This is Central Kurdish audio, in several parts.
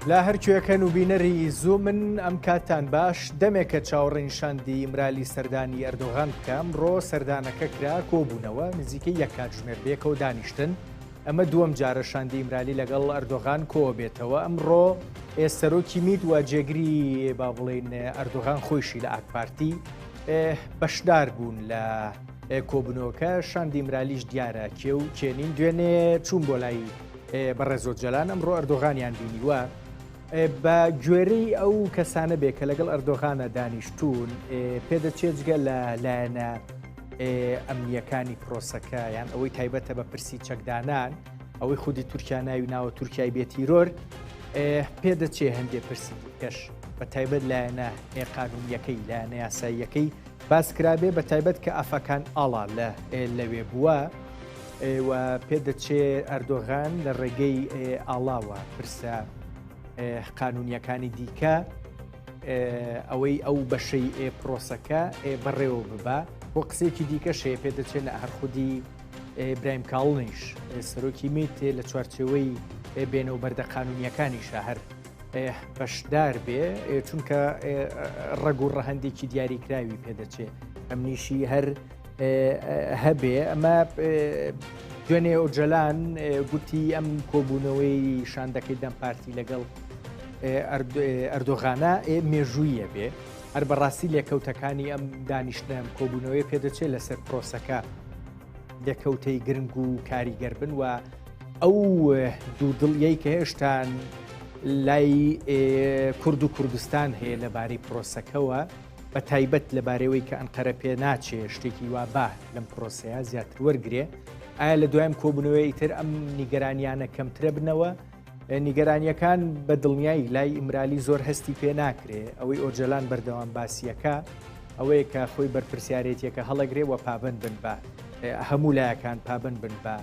لە هەرکوێکەن و بینەری زوو من ئەم کاتان باش دەمێکە چاوەڕێنشاندی ئیمرالی سەردانی ئەردۆغان بکەم ڕۆ سەردانەکە کرا کۆبوونەوە نزیکەی یەک کاتژمێر بێکەوە دانیشتن ئەمە دووەم جارە شاندی ئیمرالی لەگەڵ ئەردۆغان کۆ بێتەوە ئەمڕۆ ئێ سەرۆکی میت وە جێگری با بڵین ئەردۆغان خۆیشی لە ئاکپارتی بەشدار بوون لە کۆبنەوەکە شاندی ئیمرالیش دیارە کێ و کێنین دوێنێ چوون بۆ لای بەڕێزۆ جەلان ئەمڕۆ ئەردۆغانیان بینیوە بە گوێرەی ئەو کەسانە بێ کە لەگەڵ ئەردۆغانە دانیشتوون پێدەچێت جگە لە لایەنە ئەمنیەکانی پرۆسەکە یان ئەوەی تایبەتە بە پرسی چەکدانان ئەوەی خودی تورکیا ناوی ناوە تورکای بێتیرۆر پێدەچێ هەندێ پرسی کەش بە تایبەت لایەنە قانونیەکەی لایەنە یاساییەکەی باسکرابێ بە تایبەت کە ئافاکان ئاڵا لە لەوێ بووە و پێ دەچێ ئەردۆغان لە ڕێگەی ئاڵاوە پرسە قانونیەکانی دیکە ئەوەی ئەو بەشەی ئێ پرۆسەکە ئێ بەڕێوە ببە بۆ قسێکی دیکە شێ پێ دەچێت لە هەر خودی برایم کاڵنیش سەرۆکی میت لە چوارچەوەی بێنە و بەردە قانونیەکانی شەهر بەشدار بێ چونکە ڕەگ و ڕەهندێکی دیاریکراوی پێدەچێت ئەمنیشی هەر هەبێ ئەمە دوێنێ ئۆجەلان گوتی ئەم کۆبوونەوەی شاندەکەی دەم پارتی لەگەڵ ئەردۆغانە مێژوویە بێ هەر بەڕاستی لێکەوتەکانی ئەم دانیشتنم کۆبوونەوەی پێدەچێت لەسەر پرۆسەکە لێکەوتەی گرنگ و کاریگەر بن و ئەو دوو دڵیەی کە هێشتان لای کورد و کوردستان هەیە لەبارەی پرۆسەکەەوە بە تایبەت لەبارەیەوەی کە ئەنقەرە پێ ناچێ شتێکی وا بەه لەم پرۆسەیە زیاتر وەرگێ ئایا لە دوایم کۆبنەوەی ئیتر ئەم نیگەرانیانە کەمترە بنەوە نیگەرانیەکان بە دڵنیایی لای ئیمرالی زۆر هەستی پێ ناکرێ ئەوەی ئۆجەلان بەردەوام باسیەکە ئەوەیە کە خۆی بەرپرسیارێتیەکە هەڵەگرێ و پابند بن بە هەموو لایەکان پابند بن بە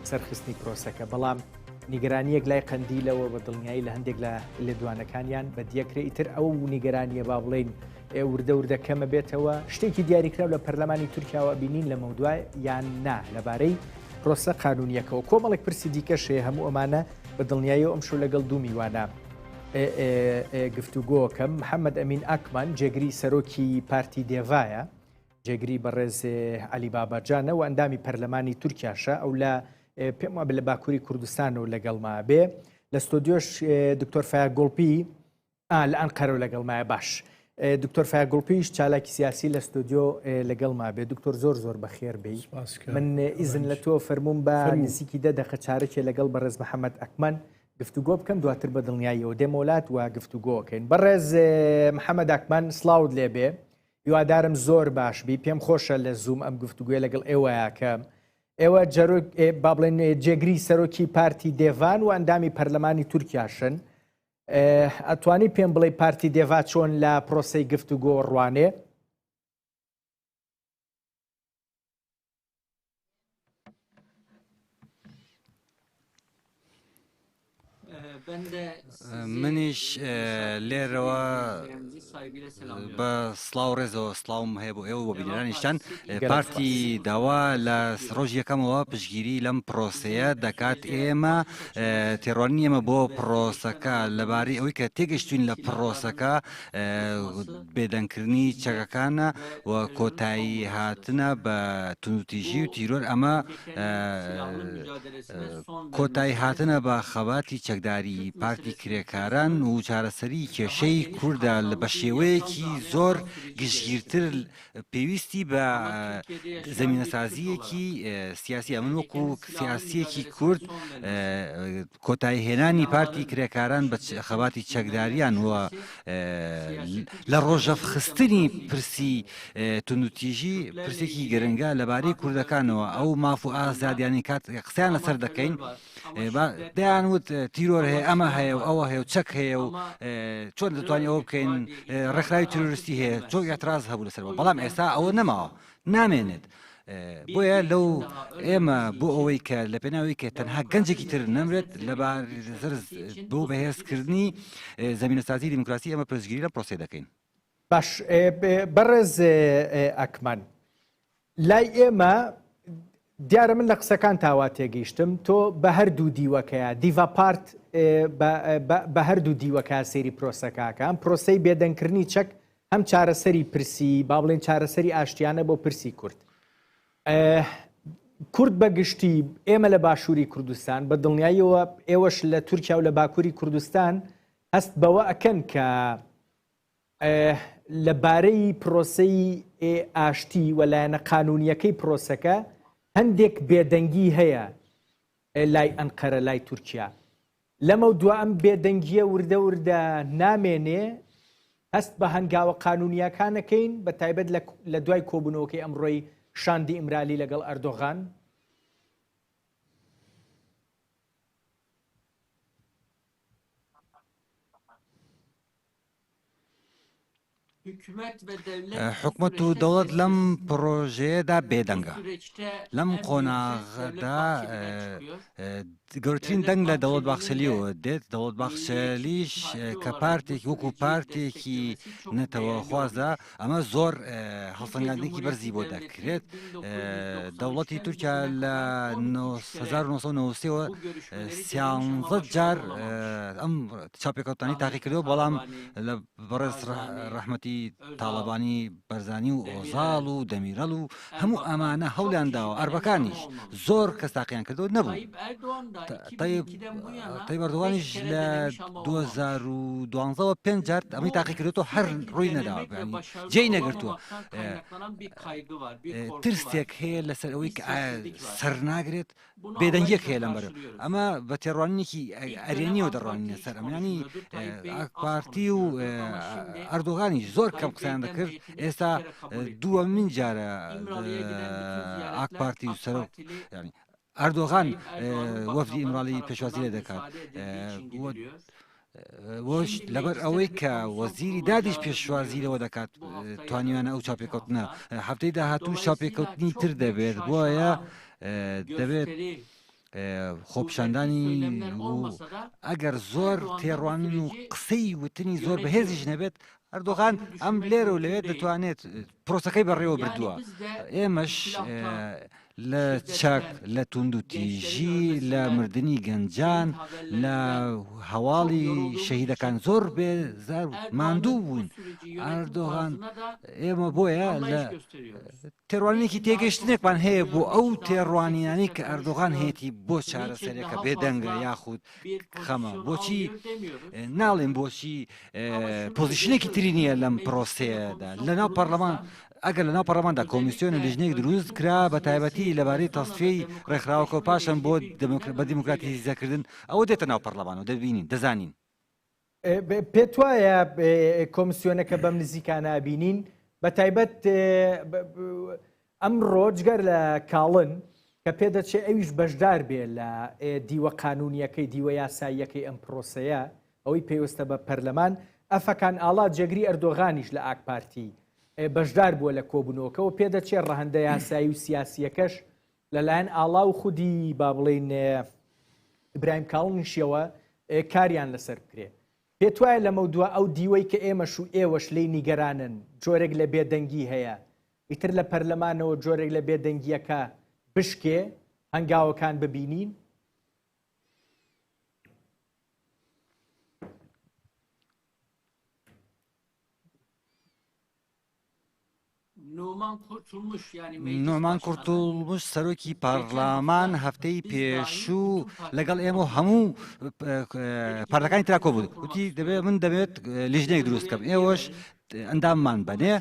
سەرخستنی پرۆسەکە بەڵام نیگەرانیەک لای قەندیلەوە بە دڵنیایی لە هەندێک لە لێدوانەکانیان بە دیەکرێ ئیتر ئەو نیگەرانیە با بڵین وردە وردە کەمە بێتەوە شتێکی دیاریکراو لە پەرلەمانی تورکیاوە بینین لە مەودوای یان نا لەبارەی پرۆسە قانونیەکەەوە کۆمەڵێک پرسی دیکەشەیە هەموو ئەمانە بە دڵنیایی ئەم شو لەگەڵ دوو میوانە گفتوگۆکەم محەممەد ئەمین ئاکمان جێگری سەرۆکی پارتی دێڤایە جێگری بەڕێز عەلی باباجانە و ئەندامی پەرلەمانی تورکیاشە ئەو لە پێم وابێ لە باکووری کوردستان و لەگەڵما بێ لە ستۆدیۆش دکتۆر فایا گوڵپی لە ئەنقەرە و لەگەڵمایە باش دکتۆر فایا گوڵپیش چالاکی سیاسی لە ستۆدیۆ لەگەڵما بێ دکتۆر زۆر زۆر بە خێر بی من ئیزن لە تۆ فەرموون بە نزیکی دە دەقە چارەکێ لەگەڵ بەڕێز محەممەد ئەکمەن گفتوگۆ بکەم دواتر بە دڵنیاییەوە دێمۆلات و گفتوگۆکەین بەڕێز محەممەد ئەکمان سلااوت لێبێ هیوادارم زۆر باش بی پێم خۆشە لە زووم ئەم گفتوگوێ لەگەڵ ئێوەیاکەم ئێوە جەرۆک با بڵێن جێگری سەرۆکی پارتی دێڤان و ئەندامی پەرلەمانی تورکیاشن ئەتوانی پێم بڵێ پارتی دێڤا چۆن لە پرۆسی گفتوگۆ ڕوانێ منیش لێرەوە بە سلااو ڕێزەوە سلااوم هەیە بۆ ئێوە بۆ بینرانیشتان پارتی داوا لە ڕۆژ یەکەمەوە پشگیری لەم پرۆسەیە دەکات ئێمە تێڕوانین ئێمە بۆ پرۆسەکە لەبارەی ئەوەی کە تێگەشتوین لە پرۆسەکە بێدەنگکردنی چەکەکانە و کۆتایی هاتنە بە تونوتیژی و تیرۆر ئەمە کۆتایی هاتنە بە خەباتی چەکداری پارتی کرێکاران و چارەسەری کێشەی کووردا لە بە شێوەیەکی زۆر گشتگیرتر پێویستی بە زمینەسازیەکی سیاسیە من وەکو سیاسیەکی کورد کۆتایی هێنانی پارتی کرێکاران بە خەباتی چەکداریان وە لە ڕۆژەف خستنی پرسی تونوتیژی پرسێکی گرنگە لەبارەی کوردەکانەوە ئەو ماف و ئازادیانی کات قسەیان لەسەر دەکەین دەیان وت تیرۆر هەیە ئەمە هەیە و ئەوە هەیە و چەک هەیە و چۆن دەتوانانی ئەوە بکەین ڕێکخراوی تروریستی هەیە چۆن ئەتراز هەبوو لەسەر بەڵام ئێستا ئەوە نەماوە نامێنێت. بۆیە لەو ئێمە بۆ ئەوەی کە لە پێناوی کە تەنها گەنجێکی تر نەمرێت لە بارزر بۆ بەهێزکردنی زمینەسازی دیموکراسی ئەمە پرسگیری لە پرۆسی دەکەین باش بەڕێز ئەکمان لای ئێمە دیارە من لە قسەکانتا وا تێگەیشتم تۆ بە هەردوو دیوەکەیە دیڤا پارت بە هەردوو دیوەکە سێری پرۆسەکەکە ئەم پرۆسەی بێدەنگکردنی چەک هەم چارەسەری پرسی با بڵێن چارەسەری ئاشتیانە بۆ پرسی کورد کورد بە گشتی ئێمە لە باشووری کوردستان بە دڵنیاییەوە ئێوەش لە تورکیا و لە باکووری کوردستان هەست بەوە ئەکەن کە لە بارەی پرۆسەی ئاشتی و لایەنە قانونییەکەی پرۆسەکە هەندێک بێدەنگی هەیە لای ئەنقەرە لای تورکیا لەمەو دو ئەم بێدەنگیە وردە وردە نامێنێ هەست بە هەنگاوە قانونیەکانەکەین بە تایبەت لە دوای کۆبوونەوەکەی ئەمڕۆی شاندی ئیمرالی لەگەڵ ئەردۆغان حکومەت و دەوڵەت لەم پڕۆژەیەدا بێدەنگە لەم قۆناغدا گەورترین دەنگ لە دەوڵەت باخسەلیەوە دێت دەوڵەت باخسەلیش کە پارتێک وەکو پارتێکی نەتەوە خوازدا ئەمە زۆر هەڵسەنگاندنێکی بەرزی بۆ دەکرێت دەوڵەتی تورکیا لە 1990ەوە سیانزە جار ئەم چاپێکەوتانی تاقی کردەوە بەڵام لە بەڕێز ڕەحمەتی تاڵەبانی بەرزانی و ئۆزاڵ و دەمیرەڵ و هەموو ئەمانە هەولیان داوە ئەربەکانیش زۆر کەس تاقییان کردو نەبوو تایبەردوانیش لە 2012ەوە پێ جار ئەمەی تاقی کردو هەر ڕووی نەداوە جێی نەگرتووە ترسێک هەیە لەسەر ئەوەی سەر ناگرێت بێدەنگیەک هەیە لەم بەرە ئەمە بە تێڕوانینێکی ئەرێنیەوە دەڕوانینە سەر ئەمانی پارتی و ئەردۆغانی زۆر کەم قسەیان دەکرد ئێستا دووە من جارە ئاک پارتی و سەر ینی ئەردۆغان وەفدی ئیمراڵی پێشوازی لێ دەکات وشت، لەبەر ئەوەی کە وەزیری دادیش پێشوازی لەوە دەکات توانیویانە ئەو چاپێکەوتنە هەفتەی داهاتوو چاپێکەوتنی تر دەبێت بۆیە دەبێت خۆپشاندانی ئەگەر زۆر تێڕوانین و قسەی وتنی زۆر بەهێزیش نەبێت ئەردۆغان ئەم لێرە و لەوێت دەتوانێت پرۆسەکەی بەڕێوە بردووە ئێمەش لە چەک، لە توندوتیژی، لە مردنی گەنجان، لە هەواڵی شەهیدەکان زۆر بێ زار ماندوو بوون ئەردۆغان ئێمە بۆیە لە تێڕوانێکی تێگەشتنێکمان هەیە بۆ ئەو تێڕوانینانی کە ئەردۆغان هێتی بۆ چارەسەرێکە بێدەنگە یاخود خەمە بۆچی ناڵێن بۆچی پۆزیشنێکی تری نییە لەم پرۆسەیەدا لەناو پەرلەمان ئەگەر لەناو پەڕلەماندا کۆمیسیۆن و لیژنەیەک دروست کرا بەتایبەتی لەبارەی تەسفیەی ڕێکخراوەکە و پاشان بۆ بە دیموکراتیزەکردن ئەوە دێتە ناو پەڕلەمان و دەبینین دەزانین. پێت وایە کۆمسیۆنەکە بەم نزیکانە ئەبینین بەتایبەت ئەمڕۆ جگەر لە کاڵن کە پێدەچێ ئەویش بەشدار بێ لە دیوە قانونیەکەی دیوە یاساییەکەی ئەم پرۆسەیە ئەوەی پێویستە بە پەرلەمان ئەفەکان ئاڵا جێگری ئەردۆغانیش لە ئاک پارتی بەشدار بووە لە کۆبوونەوەکەوە، پێدەچێت ڕەهەندە یاسایی و سیاسییەکەش لەلایەن ئاڵا و خودی با بڵێین ئیبراهیم کاڵنیشیەوە کاریان لەسەر بکرێت. پێتوایە لەمەودوا ئەو دیوەی کە ئێمەش و ئێوەش لێی نیگەرانن جۆرێک لە بێدەنگی هەیە، ئیتر لە پەرلەمانەوە جۆرێک لە بێدەنگییەکە بشکێ، هەنگاوەکان ببینین؟ نومان قورتوڵموش سەرۆکی پارلمان هەفتەی پێشوو لەگەڵ ئێمە هەموو پارەکانی تراکۆ بوو وتی دەبێت من دەبێت لیژنێک دروست کەم ئێوەش ئەنداممان بەنێ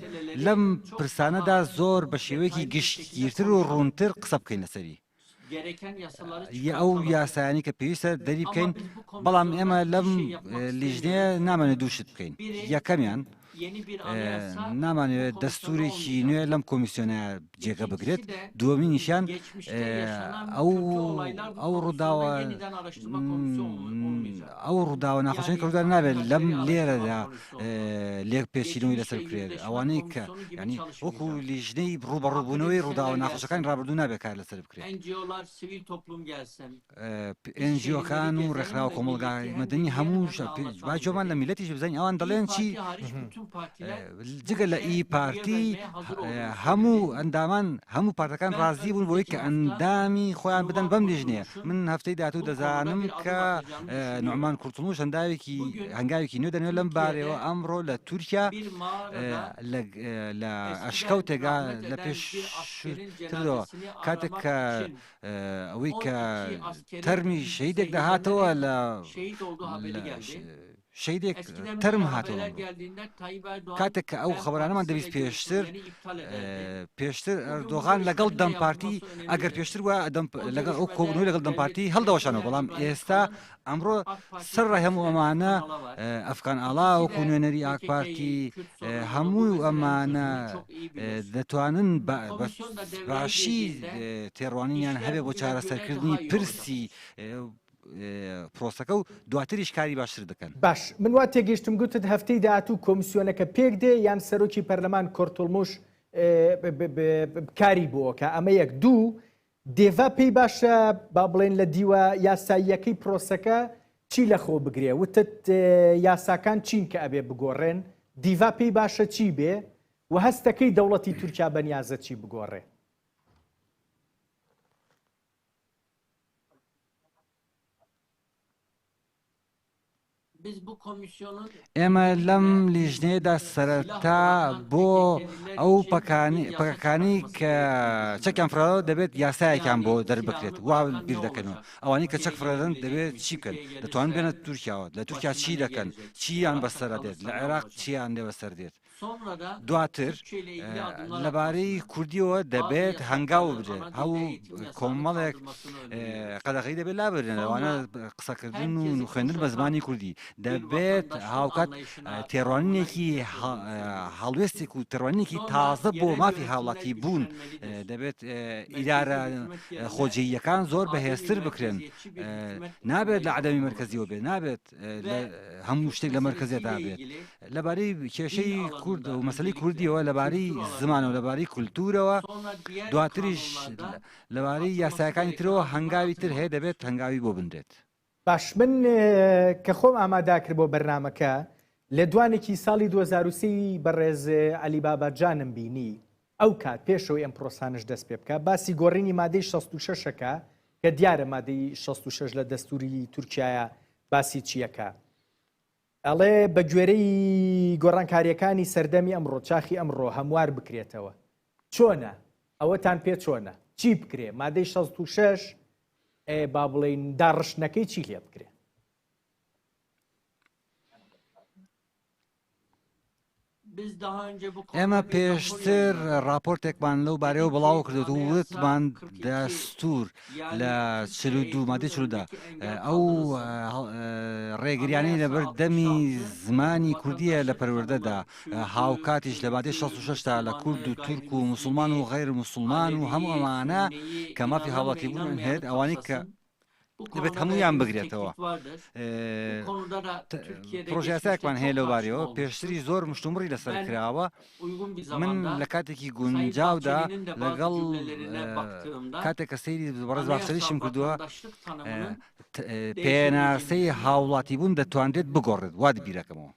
لەم پرسانەدا زۆر بە شێوەیەکی گشتگیرتر و ڕوونتر قسە بکەین لەسەری یە ئەو یاسایانی کە پێویستە دەری بکەین بەڵام ئێمە لەم لیژنەیە نامەێ دووشت بکەین یەکەمیان نامانەوێت دەستورێکی نوێ لەم کۆمیسیۆنە جێگە بگرێت دووەمی نیشان ئەو ئەو ڕووداوە ئەو ڕووداوە ناخۆشی کردوە نابێت لەم لێرەدا لێک پێچینەوەی لەسەر بکرێت ئەوانەی کە ینی وەکو لیژنەی ڕوبەڕوبوونەوەی ڕووداوە ناخۆشەکانی ڕابردوو نابێت کار لەسەر بکرێت ئەنجیۆکان و ڕێکخراوە کۆمەلگای مەدەنی هەموو با جۆمان لە میلەتیش بزانین ئەوان دەڵێن چی جگە لە ئی پارتی هەموو ئەندامان هەموو پارتەکان ڕازی بوون بۆی کە ئەندامی خۆیان بدەن بەم لیژنێ من هەفتەی داهاتوو دەزانم کە نوعمان کورتڵوش هەنداوێکی هەنگاوێکی نوێ دەنێ لەم بارەوە ئەمڕۆ لە تورکیا لە ئەشکەوتێگا لە پێش ترەوە کاتێک کە ئەوەی کە تەرمی شەیدێک دەهاتەوە لە شەیدێک تەرم هاتەوە ئەمڕۆ کاتێک کە ئەو خەبەرانەمان دەویست پێشتر پێشتر ئەردۆغان لەگەڵ دەم پارتی ئەگەر پێشتر وە لەگەڵ ئەو کۆبنەوە لەگەڵ دەم پارتی هەڵدەوەشانەوە بەڵام ئێستا ئەمڕۆ سەر ڕای هەموو ئەمانە ئەفغان ئاڵا وەکو نوێنەری ئاک پارتی هەموو ئەمانە دەتوانن باشی تێڕوانینیان هەبێ بۆ چارەسەرکردنی پرسی پرۆسەکە و دواتریش کاری باشتر دەکەن. باش، من وا تێگەیشتم گوتت هەفتەی داهاتوو کۆمسیۆنەکە پێک دێ یان سەرۆکی پەرلەمان کورتوڵموش کاری بۆ ئەکا ئەمە یەک، دوو دێڤا پێی باشە با بڵێین لە دیوە یاساییەکەی پرۆسەکە چی لە خۆ بگرێ؟ وتت یاساکان چین کە ئەبێ بگۆڕێن، دیڤا پێی باشە چی بێ و هەست دەکەی دەوڵەتی تورکیا بەنیازە چی بگۆڕێ؟ ئێمە لەم لیژنەیەدا سەرەتا بۆ ئەو پەکەکانی کە چەکیان فراوە دەبێت یاسایەکان بۆ دەربکرێت وا بیر دەکەنەوە ئەوانی کە چەک فرەدەن دەبێت چی بکەن دەتوان بێنە تورکیاوە لە تورکیا چی دەکەن چیان بەسەر دێت لە عێراق چیان لێ بەسەر دێت دواتر لەبارەی کوردیەوە دەبێت هەنگاو بدرێت هەو کۆمەڵێک قەدەغی دەبێت لا بدرێن لەوانە قسەکردن و خوێندن بە زمانی کوردی دەبێت هاوکات تێڕوانینێکی هەڵوێستێک و تڕوانێکی تازە بۆ مافی هاوڵاتی بوون دەبێت ئیدارە خۆجێیەکان زۆر بەهێزتر بکرێن نابێت لە عدەمی مرکزیەوە بێ نابێت هەموو شتێک لە مەرکەزێدا بێت لەبارەی کێشەی کورد و مەسلی کوردیەوە لەبارەی زمان و لەبارەی کولتورەوە دواتریش لەبارەی یاساکانی ترەوە هەنگاوی تر هەیە دەبێت هەنگاوی بۆ بنرێت باش من کە خۆم ئاماداکرد بۆ بەرنمەکە لێدوانێکی ساڵی 2023 بەڕێز علی باباجانم بینی ئەوکات پێشەوەی ئەم پرۆسانەش دەست پێ بکا باسی گۆڕینی مادەی شەست و شەش ئەکا کە دیارە مادەی شەست و شەش لە دەستووری تورکیایە باسی چی ئەکا ئەڵێ بە گوێرەی گۆڕانکاریەکانی سەردەمی ئەمڕۆ چاخی ئەمڕۆ هەموار بکرێتەوە چۆنە ئەوەتان پێ چۆنە چی بکرێ مادەی شەست و شەش با بڵێین داڕشتنەکەی چی لێ بکرێ ئێمە پێشتر ڕاپۆرتێکمان لەو بارەیەوە بڵاو کرد و وتمان دەستور لە چل و دوو مادی چرودا ئەو ڕێگریانی لەبەر دەمی زمانی کوردیە لە پەروەردەدا هاوکاتیش لە بادی 16 تا لە کورد و تورک و مسلمان و غیر مسلمان و هەموو ئەمانە کە مافی هاوڵاتی بوون هێت ئەوانەی کە دەبێت هەمویان بگرێتەوە پرۆژیاساکمان هەیە لە بارەوە پێشتری زۆر مشتومڕی لەسەر کراوە من لە کاتێکی گونجاودا لەگەڵ کاتێک کە سەیری بەڕێز باشتریشم کردووە پێناسەی هاوڵاتی بوون دەتوانرێت بگۆڕێت وات بیرەکەمەوە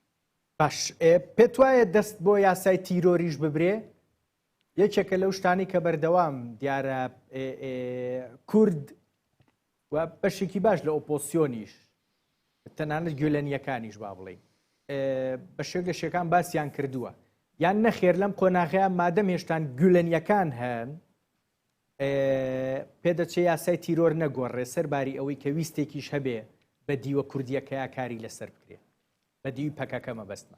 باش پێت وایە دەست بۆ یاسای تیرۆریش ببرێ یەکێکە لەو شتانەی کە بەردەوام دیارە کورد و بەشێکی باش لە ئۆپۆسیۆنیش تەنانەت گوێلەنیەکانیش با بڵین بە شێک لە شێکان باسییان کردووە یان نەخێر لەم قۆناغەیە مادەم هێشتان گولەنیەکان هەن پێدەچێ یاسای تیرۆر نەگۆڕێ سەر باری ئەوەی کە ویستێکیش هەبێ بە دیوە کوردیەکەیا کاری لەسەر بکرێ بە دیوی پەکەکە مەبەستمە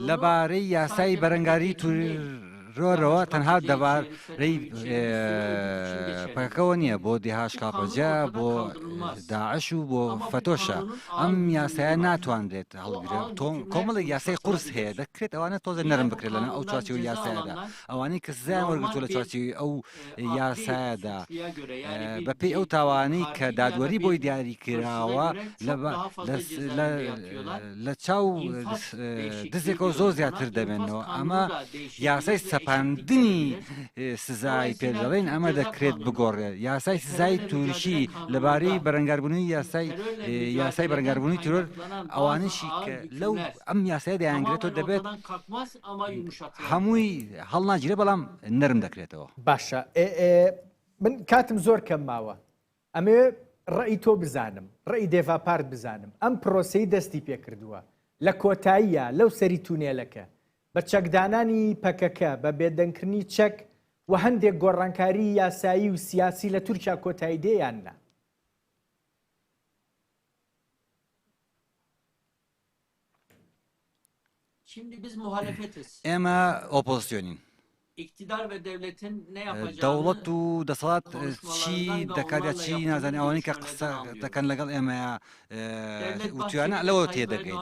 لەبارەی یاسای بەرەنگاری تیرۆرەوە تەنها دەبارەی پەکەکەوە نییە بۆ دهشکهپهجە، بۆ داعش و بۆ فەتۆشە ئەم یاسایە ناتوانرێت هەڵگرێت تۆم کۆمەڵی یاسای قورس هەیە دەکرێت ئەوانە تۆزێ نەرم بکرێت لەنە ئەو چاچی و یاسایدا ئەوانەی کە سزایان وەرگتو لە چاچی ئەو یاسایەدا بەپێی ئەو تاوانەی کە دادوەری بۆی دیاری کراوە لە چاو دزێکەوە زۆر زیاتر دەبێنەوە ئەمە یاسای سەپاندنی سزای پێدەڵێن ئەمە دەکرێت بگۆڕێت یاسای سزای تورکی لەبارەی بەرەنگاربوونی یاسای یاسای بەرەنگاربوونی ترۆر ئەوانشی لەو ئەم یاسای دەیانگرێتەوە دەبێت هەمووی هەڵناگیرێ بەڵام نەرم دەکرێتەوە. باشە من کاتم زۆر کەم ماوە ئەمێ ڕێی تۆ بزانم ڕێی دێڤاپارت بزانم ئەم پرۆسەی دەستی پێکردووە لە کۆتاییە لەو سەری تونێلەکە بە چەکدانانی پەکەکە بە بێدەنگکردنی چەک و هەندێک گۆڕانکاری یاسایی و سیاسی لە تورکیا کۆتایی دێیان نا ئێمە ئۆپۆزسیۆنین دەوڵەت و دەسەڵات چی دەکاتە چی نازانانی ئەوانەی کە قسە دەکەن لەگەڵ ئێمەیە وتوانە لەوە تێ دەگەین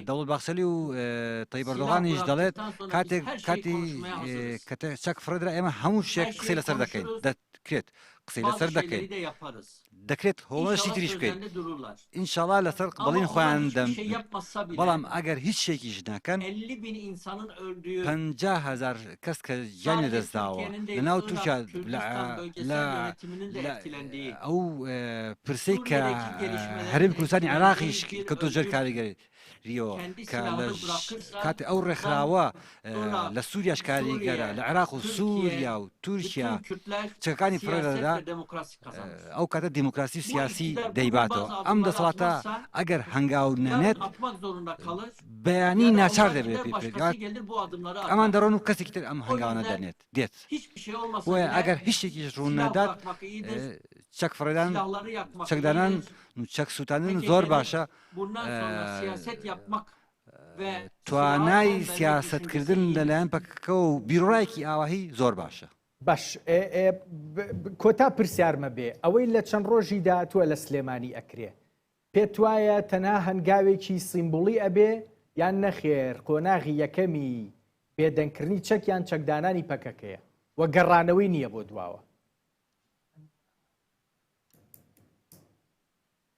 دەوڵ باخسەلی و تەی بەردۆغانیش دەڵێت کاتێک کاتی کە چەک فرەدرا ئێمە هەموو شێک قسەی لەسەر دەکەین کرێت قسەی لەسەر دەکەین دەکرێت هۆڵەشی تریش بکەین ئینشاڵا لەسەر بەڵین خۆیان دەم بەڵام ئەگەر هیچ شێکیش ناکەن هزار کەس کە گیان لەدەستداوە لەناو تورکیا ئەو پرسی کە هەرم کوردستانی عراقیش کە تۆ جەر کاریگەری ریۆ کە لە کاتی ئەو ڕێکخراوە لە سووریاش کاریگەرە لە عێراق و سووریا و تورکیا چەکانی پڕێدا ئەو کاتە دیموکراسی سیاسی دەیباتەوە ئەم دەسەڵاتە ئەگەر هەنگاو نەنێت بەیانی ناچار دەبێت ئەمان دەڕۆن و کەسێکی تر ئەم هەنگاوانە دەنێت دێت ئەگەر هیچێکی ڕوون نادات چەک فڕێدان چەکدانان چەک سووتانن زۆر باشە توانای سیاسەتکردن لەلایەن پەکەکەوە و بیروڕایەکی ئاوهی زۆر باشە. باش کۆتا پرسیارمە بێ ئەوەی لە چەند ڕۆژی داهاتووە لە سلێمانی ئەکرێ پێت وایە تەنها هەنگاوێکی سیمبوڵی ئەبێ یان نەخێر قۆناغی یەکەمی بێدەنگکردنی چەک یان چەکدانانی پەکەکەیە و گەڕانەوەی نییە بۆ دواوە.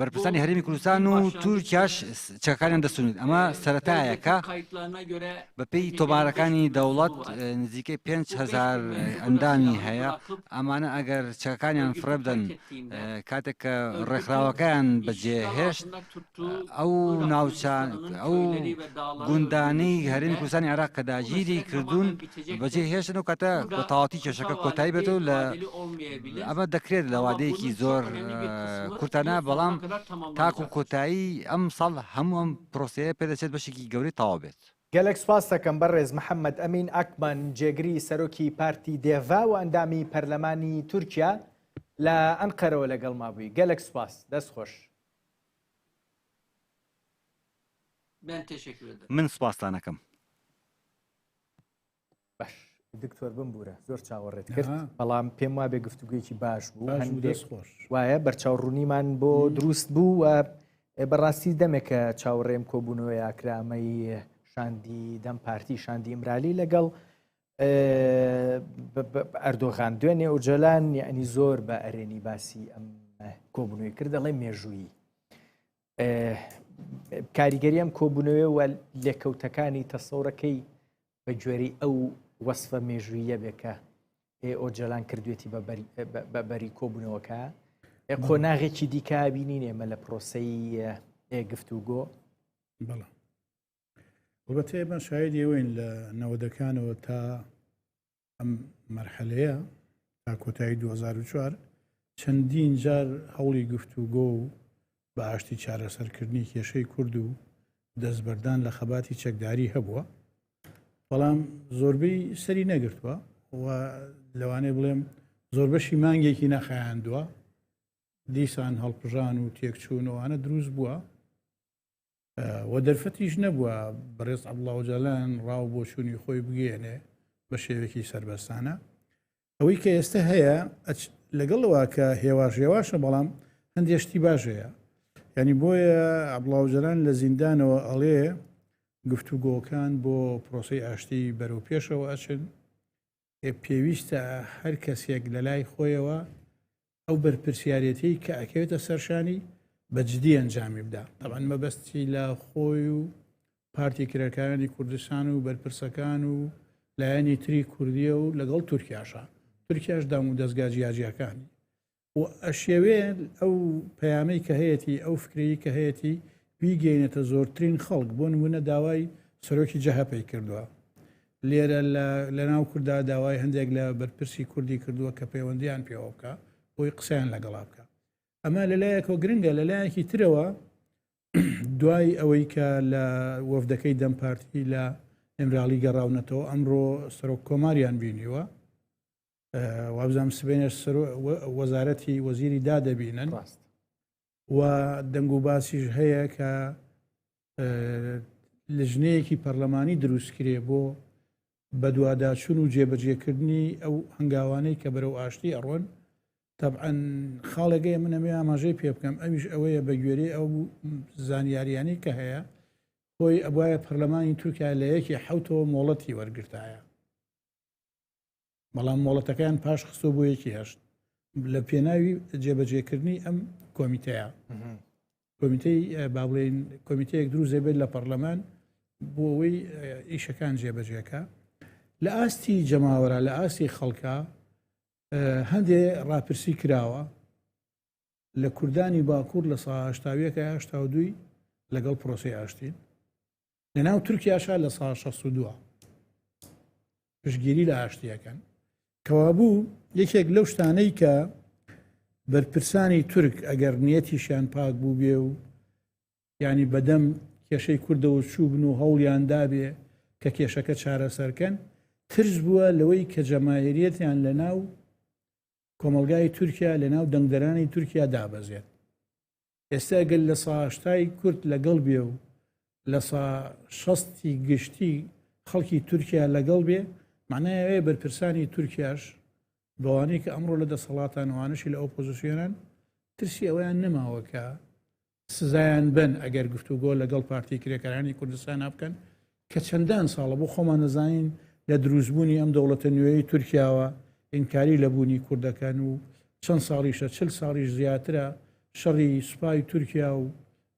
بەرپرسانی هەرێمی کوردستان و تورکیاش چەکانیان دەستونێت ئەمە سەتایەکە بەپی تۆمارەکانی دەوڵەت نزیکەی 5هزار ئەندامی هەیە ئەمانە ئەگەر چەکانیان فرەبدەن کاتێک کە ڕێکخراوەکەیان بەجێهێشت ئەو ناوچە ئەو گوندانەی هەرێمی کوردستانی عێراق کە داگیری کردوون بەجێ هێشتن و کاتە بە تەواوەتی کێشەکە کۆتایی بێت و لە ئەمە دەکرێت لە وادەیەکی زۆر کورتانە بەڵام تاکو کۆتایی ئەم ساڵ هەموو ئەم پرۆسەیە پێدەچێت بەشێکی گەورەی تەواو بێت. گەلەک سوپاست دەکەم بەڕێز محەمەد ئەمین ئاکبان جێگری سەرۆکی پارتی دێڤا و ئەندامی پەرلەمانی تورکیا لە ئەنقەرەوە لەگەڵما بووی گەلەک سوپاس دەست خۆش. من سپاستان ئەکەم. باش دکتۆر بمبورە زۆر چاوەڕێت کرد بەڵام پێم وابێ گفتوگوێکی باش بوو وایە بەرچاو ڕوونیمان بۆ دروست بوو و بەڕاستی دەمێکە چاوەڕێم کۆبوونەوە یاکرامەی شاندی دەم پارتی شاندی ئیمرالی لەگەڵ ئەردۆغان دوێنێ ئۆجەلان یعنی زۆر بە ئەرێنی باسی ئەم کۆبنەوەی کرد دەڵێ مێژوویی کاریگەری ئەم کۆبوونەوەی وە لێکەوتەکانی تەسەورەکەی بە گوێری ئەو وەصفە مێژوویە بێکە ئۆجەلان کردوێتی بە بەری کۆبوونەوەکە قۆناغێکی دیکە بینین ئێمە لە پرۆسی گفتوگۆ بەتە ئێمە شاید ئێوەین لە نەوەدەکانەوە تا ئەم مەرحەلەیە تا کۆتایی 2004 چەندین جار هەوڵی گفت و گۆ و بە ئاشتی چارەسەرکردنی کێشەی کورد و دەستبەردان لە خەباتی چەکداری هەبووە بەڵام زۆربەی سەری نەگرتووە و لەوانێ بڵێم زۆر بەشی مانگێکی نەخایاندووە دیسان هەڵپژان و تێکچوونەوەوانە دروست بووە و دەرفەتیش نەبووە بەڕێز عبڵاوجالان ڕاو بۆ چووی خۆی بگەێنێ بە شێوێکی سربەستانە ئەوەی کە ئێستا هەیە لەگەڵەوە کە هێواش هێواشە بەڵام هەندێشتی باشەیە ینی بۆیە عبڵاوجلان لە زیندانەوە ئەڵێ گفتوگۆکان بۆ پرۆسی ئاشتی بەرەو پێشەوە ئەچن پێویستە هەر کەسێک لە لای خۆیەوە ئەو بەرپرسیارەتی کە ئەکەوێتە سەرشانی بەجددی ئەنجامی بدا تەوان مەبەستی لە خۆی و پارتی کرێکارانی کوردستان و بەرپرسەکان و لایەنی تری کوردیە و لەگەڵ تورکیاشە تورکیاش دام و دەستگا جیاجیەکانی و ئەشیەوێت ئەو پەیامەی کە هەیەتی ئەو فکرەی کە هەیەتی بیگەینێتە زۆرترین خەڵک بۆ نمونە داوای سەرۆکی جەهەپەی کردووە لێرە لە ناو کوردا داوای هەندێک لە بەرپرسی کوردی کردووە کە پەیوەندیان پێوە بکە بۆی قسەیان لەگەڵا بکە ئەمە لەلایەکۆ گرنگە لەلایەکی ترەوە دوای ئەوەی کە لە وەفدەکەی دەم پارتی لە ئەمراڵی گەڕاونەتەوە ئەمڕۆ سەرۆک کۆماریان بینیوە وابزانم سبێنێ سەر وەزارەتی وەزیری دا دەبینن ڕاست و دەنگ و باسیش هەیە کە لژنەیەکی پەرلەمانی دروستکرێ بۆ بەدوواداچون و جێبەجێکردنی ئەو هەنگاوانەی کە بەرەو ئاشتی ئەڕۆن تەعەن خاڵێکگەی من ئەمێ ئاماژەی پێ بکەم ئەویش ئەوەیە بە گوێری ئەو زانیاریانی کە هەیە خۆی ئەبواە پەرلەمانی تورکیا لە یەکی حوتەوە مۆڵەتی وەرگرتایە بەڵام مۆڵەتەکەیان پاش خستۆ بۆ یەکی هەشت لە پێناوی جێبەجێکردنی ئەم کۆمیتەیە کۆمیتەی بابلین کۆمیتەیەک دروزێ بێت لە پەرلەمان بۆ ئەوەی ئیشەکان جێبەجێەکە لە ئاستی جەماوەرە لە ئاستی خەڵکە هەندێ ڕاپرسی کراوە لە کوردانی باکوور لە ساهشتاویەکە هشتا دوی لەگەڵ پرۆسی ئاشتین لەناو تورکیاشا لە سا 62 پشگیری لە ئاشتیەکەن کەوابوو یەکێک لەو شتانەی کە بەرپرسانی تورک ئەگەر نیەتیشیان پاک بوو بێ و ینی بەدەم کێشەی کوردەوە چوو بن و هەوڵیان دابێ کە کێشەکە چارەسەرکەن ترس بووە لەوەی کە جەماهریەتیان لە ناو کۆمەلگای تورکیا لە ناو دەنگدەرانی تورکیا دابەزێت ئێستا گەر لە سا هەشتای کورد لەگەڵ بێ و لە سا شەستی گشتی خەڵکی تورکیا لەگەڵ بێ معنای ئەوەیە بەرپرسانی تورکیاش بەوانەی کە ئەمڕۆ لە دەسەڵاتان وانەشی لە ئۆپۆزیسیۆنن ترسی ئەویان نەماوە کە سزایان بن ئەگەر گفتوگۆ لەگەڵ پارتی کرێکارانی کوردستان بکەن کە چەندان ساڵە بۆ خۆمان دەزانین لە دروستبوونی ئەم دەوڵەتە نوێی تورکیاوە ئینکاری لە بوونی کوردەکەن و چەند ساڵیشە چل ساڵیش زیاترە شەڕی سوپای تورکیا و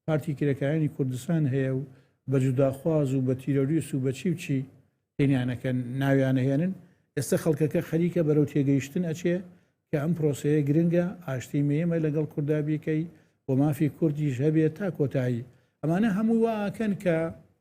پارتی کرێکارانی کوردستان هەیە و بە جوداخواز و بە تیرۆریست و بە چی و چی تێنیانەکەن ناویانەهێنن ئێستا خەڵکەکە خەریکە بەرەو تێگەیشتن ئەچێ کە ئەم پرۆسەیە گرنگە ئاشتی مێمە لەگەڵ کوردا بیکەی و مافی کوردیش هەبێت تا کۆتایی ئەمانە هەموو واکەن کە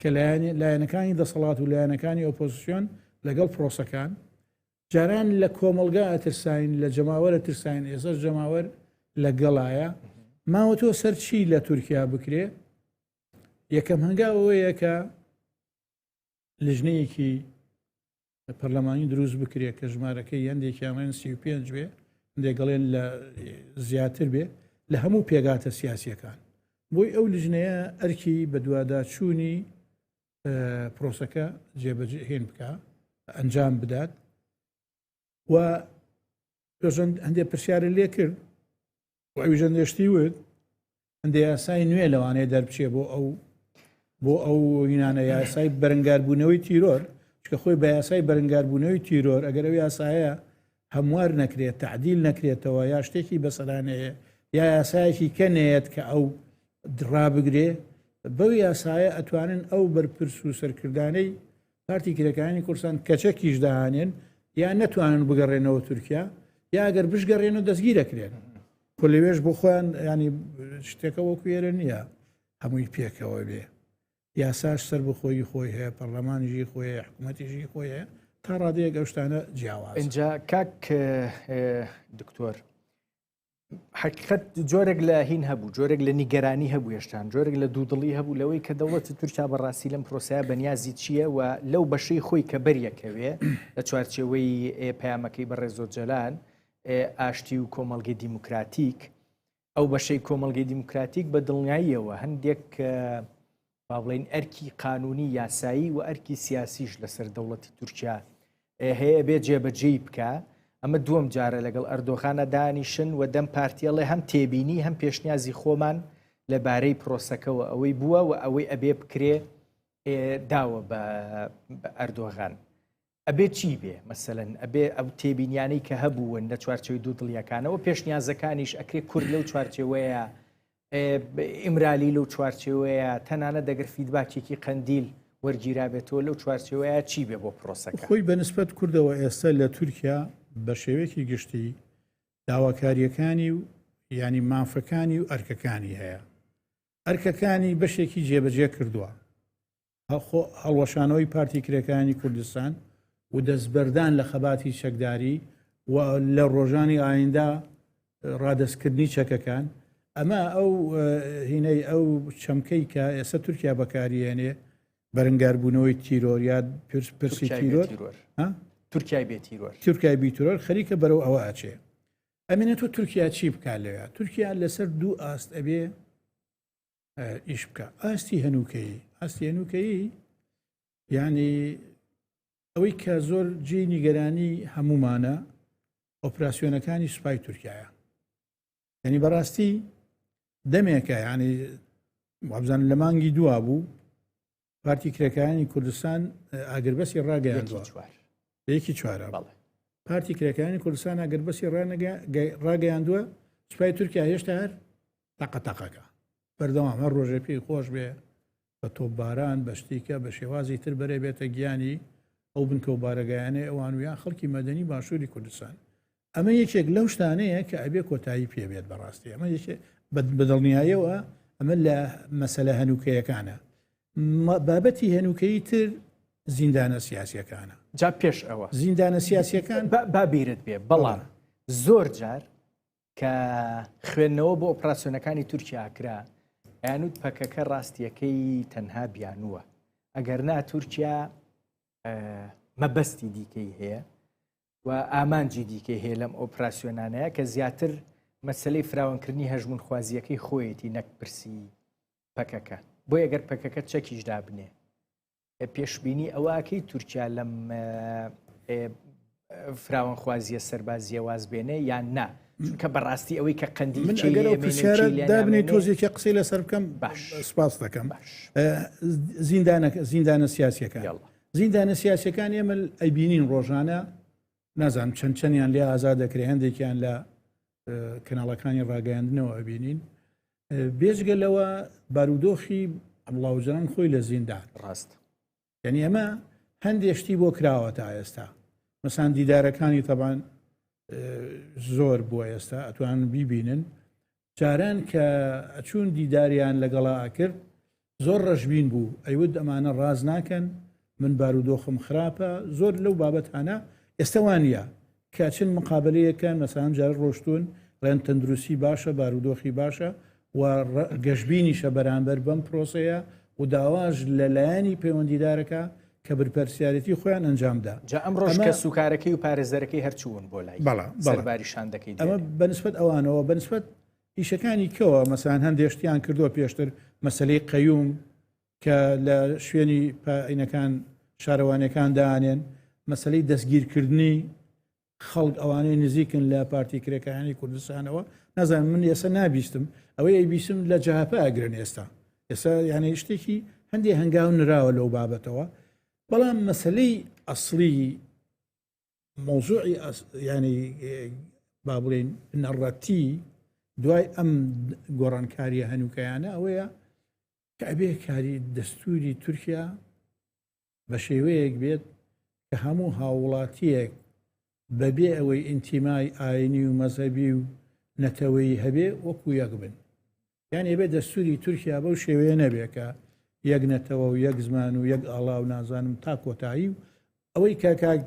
کە لایەنەکانی دەسەڵات و لایەنەکانی ئۆپۆزسیۆن لەگەڵ پرۆسەکان جاران لە کۆمەلگا ئەترساین لە جەماوەرە ترساین ئێسەر جەماوەر لە گەڵایە ماوە تۆ سەرچی لە تورکیا بکرێ یەکەم هەنگاوەوەیە کە لژنەیەکی پەرلەمانی دروست بکرێت کە ژمارەکەی هەندێکیانڵێن سی و پێنج بێ دێگەڵێن لە زیاتر بێ لە هەموو پێگاتە سیاسیەکان بۆی ئەو لژنەیە ئەرکی بەدوواداچوونی پرۆسەکە جێبەجێهێن بکە ئەنجام بدات و پێژەند هەندێک پرسیارە لێ کرد ئەویژە نوێشتی وت هەندێ یاسای نوێ لەوانەیە دەربچێ بۆ ئەو بۆ ئەو یینانە یاسای بەرنگاربوونەوەی تیرۆر چکە خۆی بە یاسای بەرنگاربوونەوەی تیرۆر ئەگەر ئەو یاسایە هەموار نەکرێت تعدیل نەکرێتەوە یا شتێکی بەسەرانەیە یا یاسایەکی کەنێت کە ئەو دڕابگرێ بەو یاسایە ئەتوانن ئەو بەرپرس و سەرکردانەی پارتی کرێکارانی کوردستان کەچەکیش داهانێن یا نەتوانن بگەڕێنەوە تورکیا یا گەر بشگەڕێن و دەستگی دەکرێن خۆ لەوێش بۆ خۆیان ینی شتێکە وەکو ێرە نییە هەمووی پێکەوە بێ یاساش سەر بخۆی خۆی هەیە پەرلەمانیژی خۆی حکوومەتیژی خۆی هەیە تا ڕادەیە گەشتانە جیاواز اینجا کاک دکتۆر حقیقت جۆرێک لە هین هەبوو جۆرێک لە نیگەرانی هەبوو هێشتان جۆرێک لە دوودڵی هەبوو لەوەی کە دەوڵەتی تورکیا بەڕاستی لەم پرۆسەیە بەنیازی چییە و لەو بەشەی خۆی کە بەریەکەوێ لە چوارچەوەی پەیامەکەی بەڕێ زۆر جەلال ئاشتی و کۆمەلگەی دیموکراتیک ئەو بەشەی کۆمەلگەی دیموکراتیک بە دڵنیاییەوە هەندێک با بڵێین ئەرکی قانونی یاسایی و ئەرکی سیاسیش لەسەر دەوڵەتی تورکیا هەیە بێ جێبەجێی بکە ئەمە دووەم جارە لەگەڵ ئەردۆغانە دانیشن و دەم پارتیەڵێ هەم تێبینی هەم پێشنیازی خۆمان لەبارەی پرۆسەکەەوە ئەوەی بووە و ئەوەی ئەبێ بکرێ داوە بە ئەردۆغان ئەبێ چی بێ مەسەن ئەبێ ئەو تێبینیانەی کە هەبوون لە چوارچەوەی دوو دڵیەکانەوە پێشنیازەکانیش ئەکرێ کورد لەو چوارچەوەیە ئیمرالی لەو چوارچەوەیە تەنانە دەگەر فیدباچێکی قەندیل وەرگیرابێتەوە لەو چوارچەوەیە چی بێ بۆ پرۆسەکە خۆی بەنسبەت کردەوە ئێستا لە تورکیا بە شێوەیەکی گشتی داواکاریەکانی و ینی مافەکانی و ئەرکەکانی هەیە ئەرکەکانی بەشێکی جێبەجێ کردووە خۆ هەڵوەشانەوەی پارتی کرێکانی کوردستان و دەستبەردان لە خەباتی چەکداری و لە ڕۆژانی ئایندا ڕادستکردنی چەکەکان ئەمە ئەو هینەی ئەو چەمکەی کە ئێستا تورکیا بەکاریێنێ بەرنگاربوونەوەی تیرۆریات پرسی تیرۆر تورکای بێتیرۆر تورکای بیترۆر خەریکە بەرەو ئەوە ئاچێ ئەمینە تۆ تورکیا چی بکات لەوێ تورکیا لەسەر دوو ئاست ئەبێ ئیش بکە ئاستی هەنووکەیی ئاستی هەنووکەیی یعنی ئەوەی کە زۆر جێ نیگەرانی هەمومانە ئۆپراسسیۆنەکانی سوپای تورکایە یعنی بەڕاستی دەمێکە یعنی وابزان لە مانگی دوا بوو پارتی کرێکانی کوردستان ئاگربەسی ڕاگەیاندوە یەکی چوارە پارتی کرێکانی کوردستان ئاگربەسی ڕاگەیاندووە سوپای تورکیا هێشتا هەر تاقە تاقەکە بەردەوام هەر ڕۆژێ پێی خۆش بێ بە تۆباران بە شتیکە بە شێوازی تر بەرێ بێتە گیانی ئەو بنکە و بارەگایانەی ئەوان ویان خەڵکی مەدەنی باشووری کوردستان ئەمە یەکێک لەو شتانەیە کە ئەبێ کۆتایی پێبێت بەڕاستی ئەمە بەدڵنیایەوە ئەمە لە مەسەلە هەنووکەیەکانە بابەتی هەنووکەی تر زیندانە سیاسەکانە جا پێش ئەوە زیندانە سیاسەکان بابیرت بێ بەڵام زۆر جار کە خوێندنەوە بۆ ئۆپراسسیۆنەکانی تورکیا کرا یانوت پەکەکە ڕاستیەکەی تەنها بیانووە ئەگەر نا تورکیا مەبەستی دیکەی هەیە و ئامانجی دیکەی هەیە لەم ئۆپراسسیۆنانەیە کە زیاتر مەسلەی فراوانکردنی هەژمون خوازیەکەی خۆیەتی نەک پرسی پەکەکە بۆ یەگەر پەکەکە چەکیش دابنێ پێشببینی ئەوەکەی تورکیا لەم فراوان خوازیە سەربازیە وازبێنێ یان نا چونکە بەڕاستی ئەوەی کە قەندی دابنی تۆزیێکی قسەی لەسەر بکەم باش سپاس دەکەم زیندانەکە زیندانە سیاسەکە زیندانە سیاسەکان ئێمە ئەیبینین ڕۆژانە نازانم چەند چەندیان لێ ئازا دەکرێ هەندێکیان لە کەناڵەکانی ڕاگەیاندنەوە ئەبینین بێژگە لەوە بارودۆخی ئەمڵاوجان خۆی لە زیندان ڕاست یعنی ئەمە هەندێشتی بۆ کراوە تا ئێستا مەسان دیدارەکانی تەبان زۆر بووە ئێستا ئەتوان بیبینن جاران کە ئەچوون دیداریان لەگەڵا ئەکرد زۆر ڕەشبین بوو ئەیود ئەمانە ڕاز ناکەن من بارودۆخم خراپە زۆر لەو بابەت هەنا ئێستاوانە کەچن مقابلەیەکەن مەسان جار ڕۆشتون ڕێن تەندروستی باشە بارودۆخی باشە و گەشبینیشە بەرامبەر بەم پرۆسەیە و داواش لە لایەنی پەیوەندیدارەکە کە برپەرسیارێتی خۆیان ئەنجام دا. جا ئەمڕۆش کەسوکارەکەی و پارێزەرەکەی هەر چوون بۆ لای سەرباری شاندەکەی دیارە. ئەمە بە نسبەت ئەوانەوە، بە نسبەت ئیشەکانی کەوە مەسەلەن هەندێ شتیان کردووە پێشتر مەسەلەی قەیوم کە لە شوێنی پا ئینەکان شارەوانیەکان دانێن، مەسەلەی دەستگیرکردنی خەڵک ئەوانەی نزیکن لە پارتی کرێکارانی کوردستانەوە نازانم من ئێستا نابیستم ئەوەی ئەیبیسم لە جەهاپە ئەگرن ئێستا ئێستا یانەی شتێکی هەندێک هەنگاو نراوە لەو بابەتەوە بەڵام مەسلەی ئەسلی مۆزوعی ینی با بڵێن نەڕەتی دوای ئەم گۆڕانکاریە هەنووکەیانە ئەوەیە کە ئەبێ کاری دەستوری تورکیا بە شێوەیەک بێت کە هەموو هاووڵاتییەک بەبێ ئەوەی ئینتیمای ئاینی و مەزەبی و نەتەوەی هەبێ وەکو یەک بن یان ئێبێ دەستوری تورکیا بەو شێوەیە نەبێکە یەک نەتەوە و یەک زمان و یەک ئاڵا و نازانم تا کۆتایی و ئەوەی کاکاک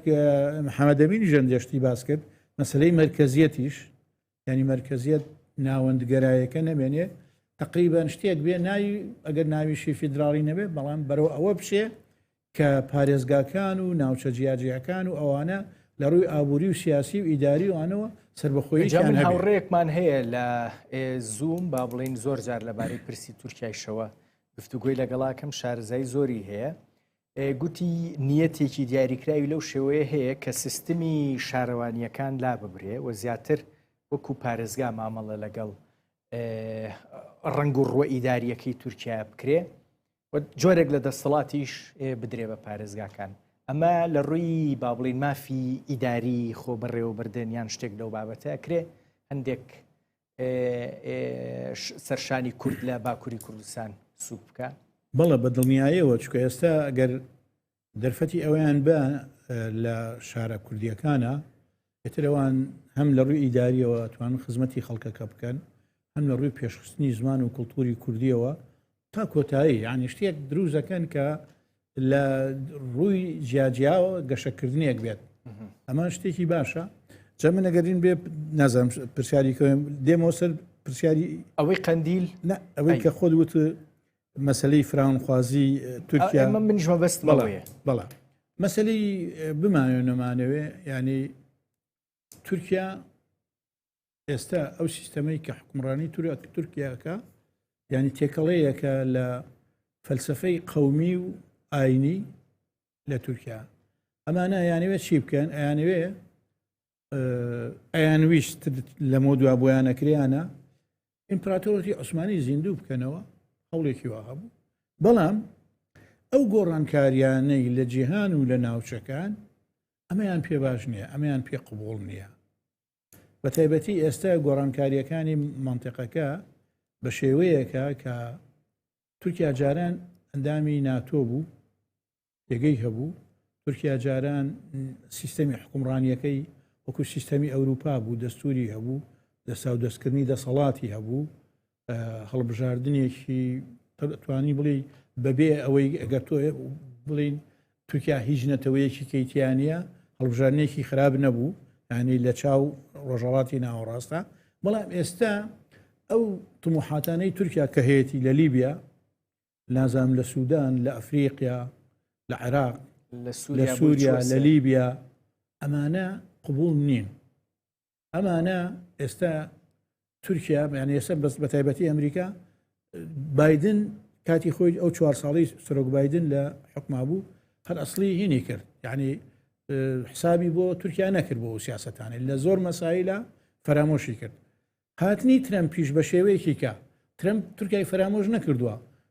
محەممەدەمین ژەندێشتی باس کرد مەسلەی مرکزیەتیش یعنی مەرکزیت ناوەندگەرایەکە نەمێنێ تقریبان شتێک بێ ناوی ئەگەر ناویشی فیدراڵی نەبێ بەڵام بەرەو ئەوە بشێ کە پارێزگاکان و ناوچە جیاجیەکان و ئەوانە لە ڕووی ئابووری و سیاسی و ئیداری وانەوە سربەخۆی هاوڕێکمان هەیە لە زووم با بڵین زۆر جار لەبارەی پرسی تورکایشەوە گفتوگوۆی لەگەڵاکەم شارزای زۆری هەیە گوتی نیەتێکی دیاریکراوی لەو شێوەیە هەیە کە سیستمی شارەوانییەکان لاببرێ و زیاتر وەکو پارێزگا مامەڵە لەگەڵ ڕنگ و ڕوە ئیداریەکەی تورکیا بکرێ جۆرێک لە دەسەڵاتیش بدرێ بە پارێزگاکان ئەمە لە ڕووی با بڵین مافی ئیداری خۆ بەڕێوەبردن یان شتێک لەو بابەتە ئەکرێ هەندێک سەرشانی کورد لە باکووری کوردستان سوک بکە بەڵە بە دڵنیایەوە چکە ئێستا ئەگەر دەرفەتی ئەویان بە لە شارە کوردیەکانە ئێترەوان هەم لە ڕووی ئیداریەوە توان خزمەتی خەڵکەکە بکەن هەم لە ڕووی پێشخستنی زمان و کللتوری کوردیەوە تا کۆتایی یعنی شتێک دروزەکەن کە لە ڕووی جیاجیاوە گەشەکردنێک بێت ئەمان شتێکی باشە جە من نەگەرین بێ نازم پرسیاری کەم دێمەوە سەر پرسیاری ئەوەی قندیل ئەوەی کە خۆت وت مەسلەی فراونخوازی تورکیا منش مەبست بەڵێ بەڵە مەسلەی بمانێ نەمانەوێ ینی تورکیا ئێستا ئەو سیستەمەی کە حکومڕانی تورک تورکیاکە ینی تێکەڵەیەکە لە فەلسفەی قومی و ئاینی لە تورکیا ئەمانە یانەوێت چی بکەن ئەیانوێ ئەیان ویست لەمە دوا بۆیانەکریانە ئیمپراتۆرەتی عوسمانی زیندوو بکەنەوە هەوڵێکی وا هەبوو بەڵام ئەو گۆڕانکاریانەی لە جیهان و لە ناوچەکان ئەمەیان پێ باش نییە ئەمەیان پێ قوبول نییە بەتایبەتی ئێستا گۆڕانکاریەکانی مەنتقەکە بە شێوەیەکە کە تورکیا جاران ئەندامی ناتۆ بوو پێگەی هەبوو تورکیا جاران سیستەمی حکومڕانیەکەی وەکو سیستەمی ئەوروپا بوو دەستوری هەبوو دەسا و دەستکردنی دەسەڵاتی هەبوو هەڵبژاردنێکی توانی بڵێ بەبێ ئەوەی ئەگەر تۆ بڵین تورکیا هیچ نەتەوەیەکی کەیتیانە هەڵبژارنێکی خراپ نەبوو ینی لە چاو ڕۆژەڵاتی ناوەڕاستە بەڵام ئێستا ئەو تموحاتانەی تورکیا کە هەیەی لە لیبیا نازام لە سوودان لە ئەفریقیا لە عێراق لە سووریا لە لیبیا ئەمانە قبول نین ئەمانە ئێستا تورکیا یان ئێستا بەس بە تایبەتی ئەمریکا بادن کاتی خۆی ئەو چوار ساڵی سرۆک بادن لە حکما بوو هەر ئەسلی هینی کرد یعنی حسابی بۆ تورکیا نەکرد بۆ سیاستانی لە زۆر مەسایلە فەرامۆشی کرد هاتنی ترەم پیش بە شێوەیەکی کە ترەم تورکای فەرامۆش نەکردووە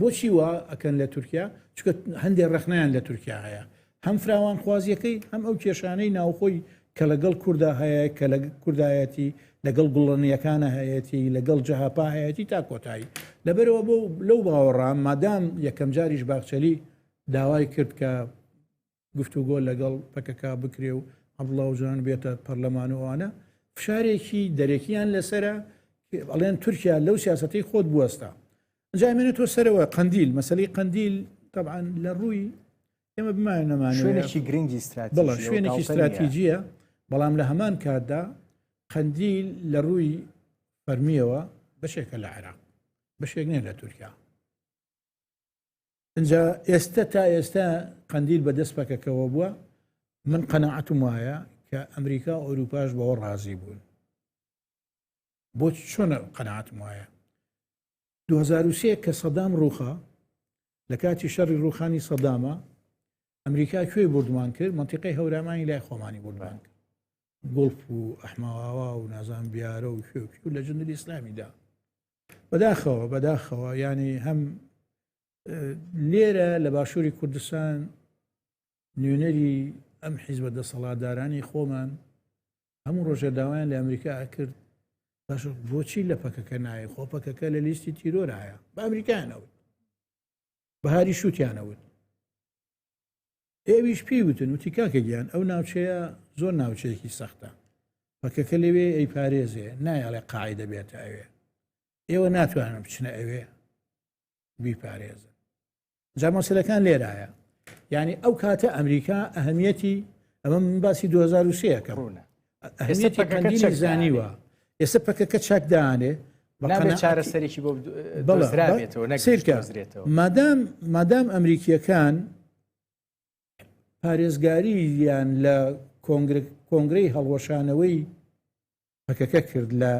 بۆچی وا ئەکەن لە تورکیا چکە هەندێک ڕخنیان لە تورکیا هەیە هەم فراوانخوازیەکەی هەم ئەو کێشانەی ناوخۆی کە لەگەڵ کووردا هەیە کە لە کوردایەتی لەگەڵ گوڵەنیەکانە هەیەتی لەگەڵ جەهاپا هەیەتی تا کۆتایی لەبەرەوە بۆ لەو باوەڕام مادام یەکەم جاریش باخچەلی داوای کرد کە گفتوگۆ لەگەڵ پەکەکە بکرێ و عەبدوڵا ئۆجالان بێتە پەرلەمان و ئەوانە فشارێکی دەرەکیان لەسرە ئەڵێن تورکیا لەو سیاستەی خۆت بوەستا جامێنێت تۆ سەرەوە قندیل مەسلی قندیل طبعا لە ڕووی ئێمە بمان نەمان شوێنێکی گرنگی بڵە شوێنێکی استراتیجیە بەڵام لە هەمان کاتدا قندیل لە ڕووی فەرمیەوە بەشێکە لە عێراق بەشێک نیە لە تورکیا ئینجا ئێستە تا ئێستە قەندیل بەدەست پەکەکەەوە بووە من قەنەعەتم وایە کە ئەمریکا و ئەوروپاش بەوە ڕازی بوون بۆ چۆنە قەنەعاتم وایە 2023 کە سەدام ڕوخە لە کاتی شەڕی ڕوخانی سەدامە ئەمریکا کوێی بردمان کرد منتیقی هەورامانی لای خۆمانی بردمان کرد گڵف و ئەحماوا و نازان بیارە و کوێ و لە جندری ئسلامیدا بەداخەوە بەداخەوە ینی هەم لێرە لە باشووری کوردستان نوێنەری ئەم حیزبە دەسەڵاتدارانی خۆمان هەموو ڕۆژە داوایان لە ئەمریکا ئەکرد باش بۆچی لە پەکەکە نایە خۆ پەکەکە لە لیستی تیرۆرایە بە ئەمریکایانەوت بەهاری شووتیانەوت ئێویش پێی وتن وتی کاکە گیان ئەو ناوچەیە زۆر ناوچەیەکی سەختە پەکەکە لەوێ ئەی پارێزێ نایاڵێ قاعی دەبێت ئەوێ ئێوە ناتوانن بچنە ئەوێ بیپارێزن جا مەسلەکان لێرایە یعنی ئەو کاتە ئەمریکا ئەهمیەتی ئەمە من باسی 2023 کە ڕوونە ئەهمیەتی قەندیل زانیوە ئێستا پەکەکە چاکدانێ چارەسەرێکی بۆ سیرکە مادام مادام ئەمریکیەکان پارێزگاری یان لە کۆنگرەی هەڵوەشانەوەی پەکەکە کرد لە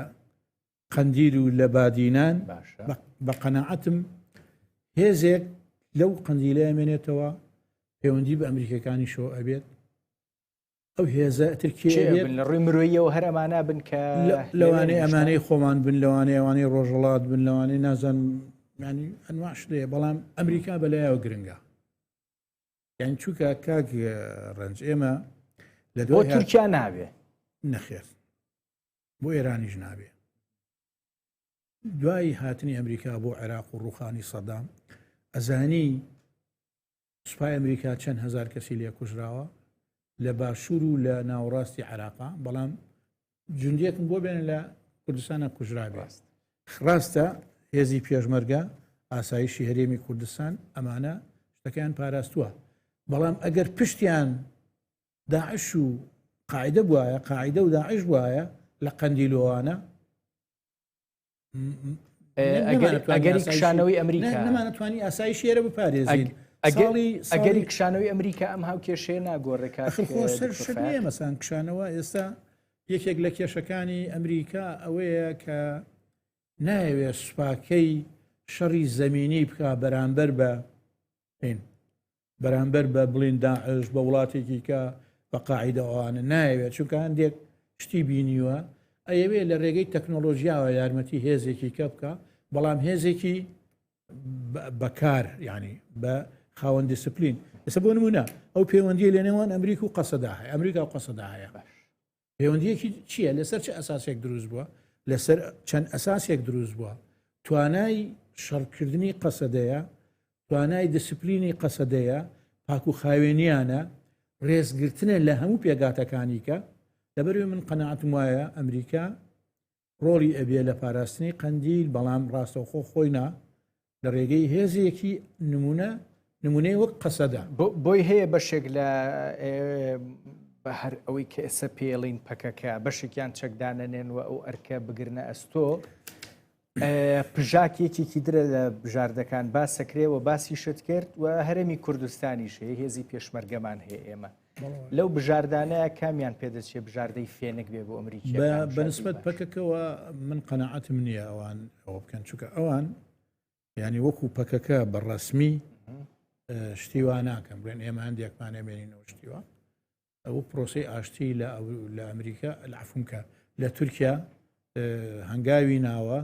قەندیل و لە بادینان بە قەنەعەتم هێزێک لەو قندیلە ئەمێنێتەوە پەیوەندی بە ئەمریکەکانی شۆ ئەبێت ئەو هێزە ترکیە لە ڕووی مرۆیەوە هەر ئەمانە بن کە لەوانەیە ئەمانەی خۆمان بن لەوانەیە ئەوانەی ڕۆژەڵات بن لەوانەیە نازان ینی ئەنواش لێ بەڵام ئەمریکا بەلایەوە گرنگە یان چووکە کاک ڕنج ئێمە لە دو تورکیا ناوێ نەخێر بۆ ئێرانیش نابێ دوایی هاتنی ئەمریکا بۆ عێراق و ڕوخانی سەدام ئەزانی سوپای ئەمریکا چەند هەزار کەسی لێ کوژراوە لە باشوور و لە ناوەڕاستی عراقا بەڵام جوندیەکم بۆ بێنە لە کوردستانە کوژرا بێست خراستە هێزی پێشمەرگە ئاسایشی هەرێمی کوردستان ئەمانە شتەکەیان پاراستووە بەڵام ئەگەر پشتیان داعش و قاعدە بواە قاعدە و داعش وایە لە قەندیلۆوانە ئەگەری کشانەوەی ئەمریکا نمانەتوانی ئاسایی شێرە بپارێزین ئەگەری کشانەوەی ئەمریکا ئەم هاو کێشەیە ناگۆڕێکا مەسان کشانەوە ئێستا یەکێک لە کێشەکانی ئەمریکا ئەوەیە کە نایەوێت سوپاکەی شەڕی زەمینی بکە بەرامبەر بە نین بەرامبەر بە بڵین داعش بە وڵاتێکی کە بە قاعدەوانە نایەوێت چونکە هەندێک شتی بینیوە ئەیەوێ لە ڕێگەی تەکنۆلۆژیاوە یارمەتی هێزێکی کە بکە بەڵام هێزێکی بەکار ینی بە خاوەن دیسپلین ئێستا بۆ نمونە ئەو پەیوەندی لە نێوان ئەمریک و قەسەدا هەیە ئەمریکا و قەسەدا هەیە پەیوەندیەکی چییە لەسەر چ ئەساسێک دروست بووە لەسەر چەند ئەساسێک دروست بووە توانای شەڕکردنی قەسەدەیە توانای دیسپلینی قەسەدەیە پاکو خاوێنیانە ڕێزگرتنە لە هەموو پێگاتەکانیکە لەبەروی من قەنەعاتم وایە ئەمریکا ڕۆڵی ئەبێ لە پاراستنی قەندیل بەڵام ڕاستەوخۆ خۆی نا لە ڕێگەی هێزێکی نمونە نمونەی وەک قەسەدا بۆی هەیە بەشێک لە بە هەر ئەوەی کە ئێسە پێڵین پەکەکە بەشێکیان چەکدانەنێن و ئەو ئەرکە بگرنە ئەستۆ پژاک یەکێکی درە لە بژاردەکان باسەکرێ و باسی شت کرد و هەرێمی کوردستانیش هەیە هێزی پێشمەرگەمان هەیە ئێمە لەو بژاردانەیە کامیان پێدەچێ بژاردەی فێنک بێ بۆ ئەمریکی بەنسبەت پەکەکەەوە من قەنەعاتم نییە ئەوان ئەوە بکەن چکە ئەوان ینی وەکو پەکەکە بە ڕسمی شتیوا ناکەم بێن ئێمە هەندێکمانە بێنینەوە شتیوە ئەو پرۆسی ئاشتی لە لە ئەمریکا لەعفونکە لە تورکیا هەنگاوی ناوە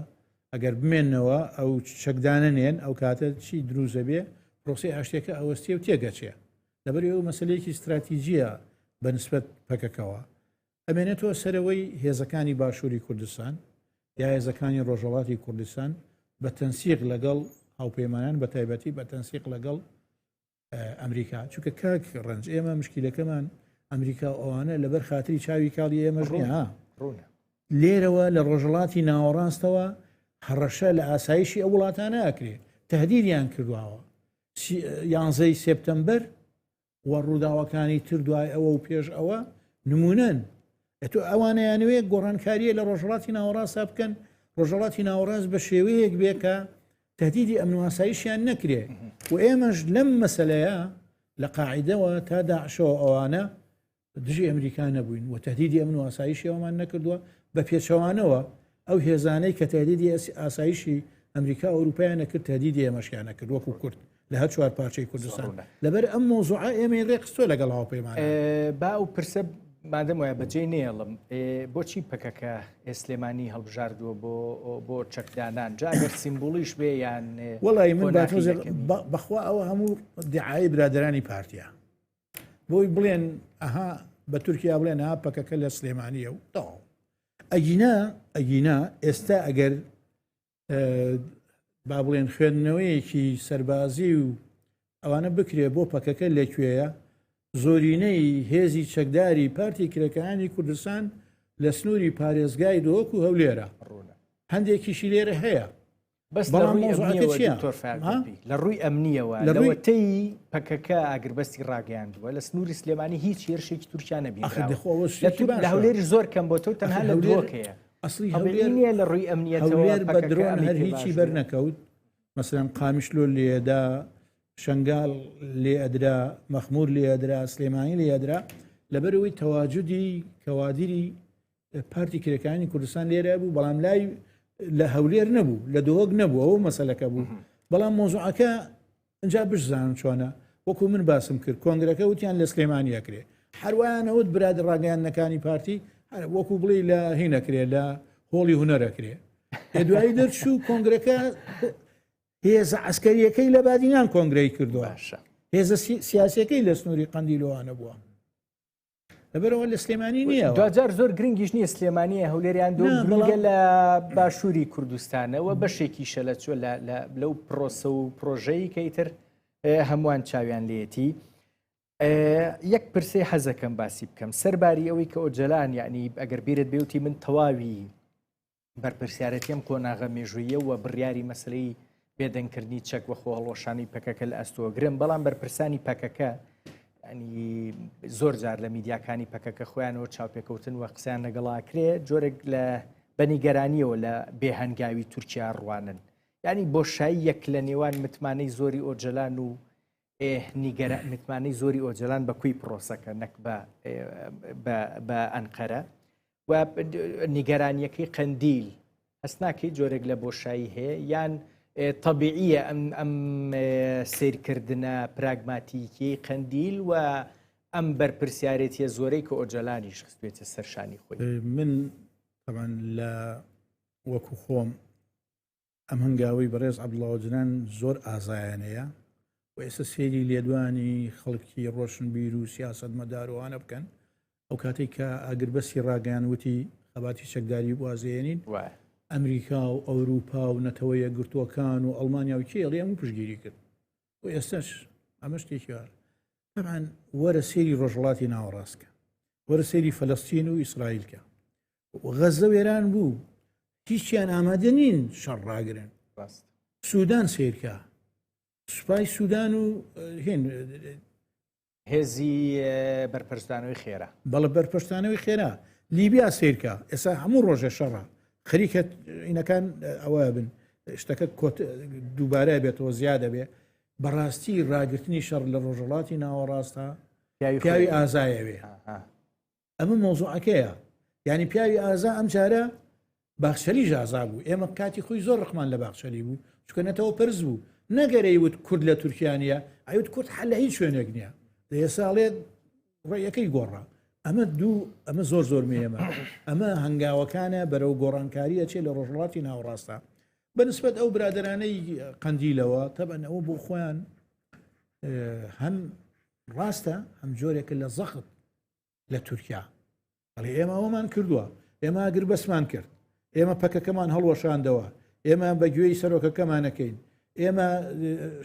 ئەگەر بمێنەوە ئەو چەکدانە نێن ئەو کاتە چی دروزە بێ پرۆسی ئاشتێکە ئەوەستێ و تێگەچێ لەبەر ئەوە مەسلەیەکی ستراتیجیە بە نسبەت پەکەکەوە ئەمێنێتەوە سەرەوەی هێزەکانی باشووری کوردستان یا هێزەکانی ڕۆژەڵاتی کوردستان بە تەنسیق لەگەڵ هاوپەیمانان بە تایبەتی بە تەنسیق لەگەڵ ئەمریکا چونکە کاک ڕنج ئێمە مشکیلەکەمان ئەمریکا و ئەوانە لەبەر خااتری چاوی کاڵی ئێمەش ها لێرەوە لە ڕۆژەڵاتی ناوەڕاستەوە هەڕەشە لە ئاسایشی ئەو وڵاتانە ئەکرێ تهدیدیان کردواوە یانزەی سپتمبەر و ڕووداوەکانی تر دوای ئەوە و پێش ئەوە نمونەن ئەتو ئەوانەیانوێ گۆڕانکاریە لە ڕۆژهڵاتی ناوەڕاستە بکەن ڕۆژەڵاتی ناوەڕاست بە شێوەیەک بێکە تهدیدی ئەمنواسایشیان نەکرێ و ئێمەش لەم مەسلەیە لە قاعدەوە تا داعشەوە ئەوانە دژی ئەمریکا نەبووین و تهدیدی ئەمن و ئاسایشی ئەومان نەکردووە بە پێچەوانەوە ئەو هێزانەی کە تهدیدی ئاسایشی ئەمریکا ئەوروپیان نەکرد تهدیدی ئێمەشیان نەکرد وەکو کورد لە هەر چوار پارچەی کوردستان لەبەر ئەم مۆزوع ئێمە ڕێکستۆ لەگەڵ هاوپەیمان با و پرسە مادەم وایە بەجێ نێڵم بۆچی پەکەکە ئێسلێمانی هەڵبژاردووە بۆ بۆ چەکدانان جاگەر سیمبولیش بێ یان وڵی من بەخوا ئەوە هەموو دیعاایی برادرانی پارتیا بۆی بڵێن ئەها بە تورکیا بڵێن ها پەکەکە لە سلێمانیە و تاو ئەگینا ئەگینا ئێستا ئەگەر با بڵێن خوێندنەوەیەکی سەربازی و ئەوانە بکرێ بۆ پەکەکە لەکوێیە زۆرینەی هێزی چەکداری پارتی کرەکانی کوردستان لە سنووری پارێزگای دۆک و هەولێرە هەندێکیشی لێرە هەیە بەس لە ڕووی ئەمنیەوە دکتۆر فەرمانبی لە ڕووی ئەمنیەوە لەوەتەی پەکەکە ئاگربەستی ڕاگەیاندووە لە سنووری سلێمانی هیچ هێرشێکی تورکیا نەبی لە هەولێری زۆر کەم بۆ تۆ تەنها لە هەولێرەکەیە ئەسلی هەولێریە لە ڕووی ئەمنیەتەوەێر بە درۆن هەر هیچی بەر نەکەوت مەسەن قامیش لۆ لێدا شنگال لێ ئەدرا مەخمور لێ ئەدرا سلێمانی لێ ئەدرا لەبەرەوەی تەواجدی کەوادری پارتی کرێکانی کوردستان لێرە بوو بەڵام لای لە هەولێر نەبوو لە دۆک نەبوو ئەو مەسلەکە بوو بەڵام مۆزوعەکە ئەجا بشزانم چۆنە وەکو من باسم کرد کۆنگرەکە وتیان لە سلێمانی ئەکرێ هەروانەوت براد ڕاگەیانەکانی پارتی وەکو بڵێ لە هینەکرێ لە هۆڵی هوەرەکرێ دوایی دەرچوو کۆنگرەکە هێزە ئەسکەریەکەی لە بادینان کۆنگرەی کردووە هێزە سیاسەکەی لە سنووری قندیلوانە بووە لەبەرەوە لە سلێمانی نییە دوجار زۆر گرنگیش نییە سلێمانیە هەولێریان دوگە لە باشووری کوردستانەوە بەشێکی شەلە چۆ لەو پرۆسە و پرۆژەی کەیتر هەمووان چاویان لێتی یەک پرسی حەزەکەم باسی بکەم سەرباری ئەوەی کە ئۆجلان یعنی ئەگەر بیرت بێوتی من تەواوی بەرپرسیارەتی ئەم قۆناغە مێژوویە و بڕیاری مەسلەی بێدەنگکردنی چەک وە خۆهڵۆشانی پەکەکە لە ئەستۆگرن بەڵام بەرپرسانی پەکەکە زۆر جار لە میدیاکانی پەکەکە خۆیانەوە چاوپێکەوتن وە قسەیان لەگەڵاکرێ جۆرێک لە بەنیگەرانیەوە لە بێهنگاوی تورکیا ڕوانن ینی بۆشایی یەک لە نێوان متمانەی زۆری ئۆجلان و ئێه نیگەرا متمانەی زۆری ئۆجەلان بە کوی پرۆسەکە نەک بە بە ئەنقەرە و نیگەرانیەکەی قەندیل هەست ناکەی جۆرێک لە بۆشایی هەیە یان طبیعیە ئەم ئەم سیرکردە پراگماتیکی قەندیل و ئەم بەرپرسیارێتە زۆرەی کە ئۆجەلانیش خستێتە سەرشانی خۆی من تەمان لە وەکو خۆم ئەم هەنگاوەی بەڕێز عبدڵڵا ئۆجلان زۆر ئازایانەیە و ئێستا سێری لێدوانی خەڵکی ڕۆشنبیر و سیاست مەدارۆوانە بکەن ئەو کاتێک کە ئاگربەسی ڕاگەیان وتی خەباتی چەکداری بازێنین ئەمریکا و ئەوروپا و نەتەوەیە گرتووەکان و ئەڵمانیا و کێڵی هەموو پشگیری کرد و ئێستش ئەمە شتێکیوار تەمان وەرە سێری ڕۆژهڵاتی ناوەڕاستکە وەرە سێری فەلستین و ئیسرائیلکە غەزە وێران بوو هیچیان ئامادە نین شەڕ ڕاگرن سوودان سیرکە سوپای سوودان و هێن هێزی بەرپەرستانەوەی خێرا بەڵە بەرپەرستانەوەی خێرا لیبیا سیرکە ئێسا هەموو ڕۆژێ شەڕە خەریکە ئینەکان ئەوە بن شتەکە کۆت دووبارە بێتەوە زیادە بێ بەڕاستی ڕاگررتنی شەڕ لە ڕۆژەڵاتی ناوەڕاستە پیاوی ئازایەوێ ئەمە مۆزوعەکەیە یعنی پیاوی ئازا ئەم جارە باخچەلی ژازا بوو ئێمە کاتی خۆی زۆر ڕخمان لە باخچەلی بوو چکەنەتەوە پرز بوو نەگەرەی وت کورد لە تورکیانە ئەوت کورد حل لە هیچ شوێنێک نییە لە ئێساڵێت ڕێیەکەی گۆڕا ئەمە دوو ئەمە زۆر زۆر مێمە ئەمە هەنگاوەکانە بەرەو گۆڕانکاریە چێ لە ڕۆژڵاتی ناوڕاستە بەنسبەت ئەو برادرانەی قندیلەوە تەبەن ئەوە بۆ خۆیان هەم ڕاستە هەم جۆرێکە لە زەخت لە تورکیا ئەڵێ ئێمە ئەومان کردووە ئێمە ئەگر بەسمان کرد ئێمە پەکەکەمان هەڵوەشاندەوە ئێمە بە گوێی سەرۆکەکەمانەکەین ئێمە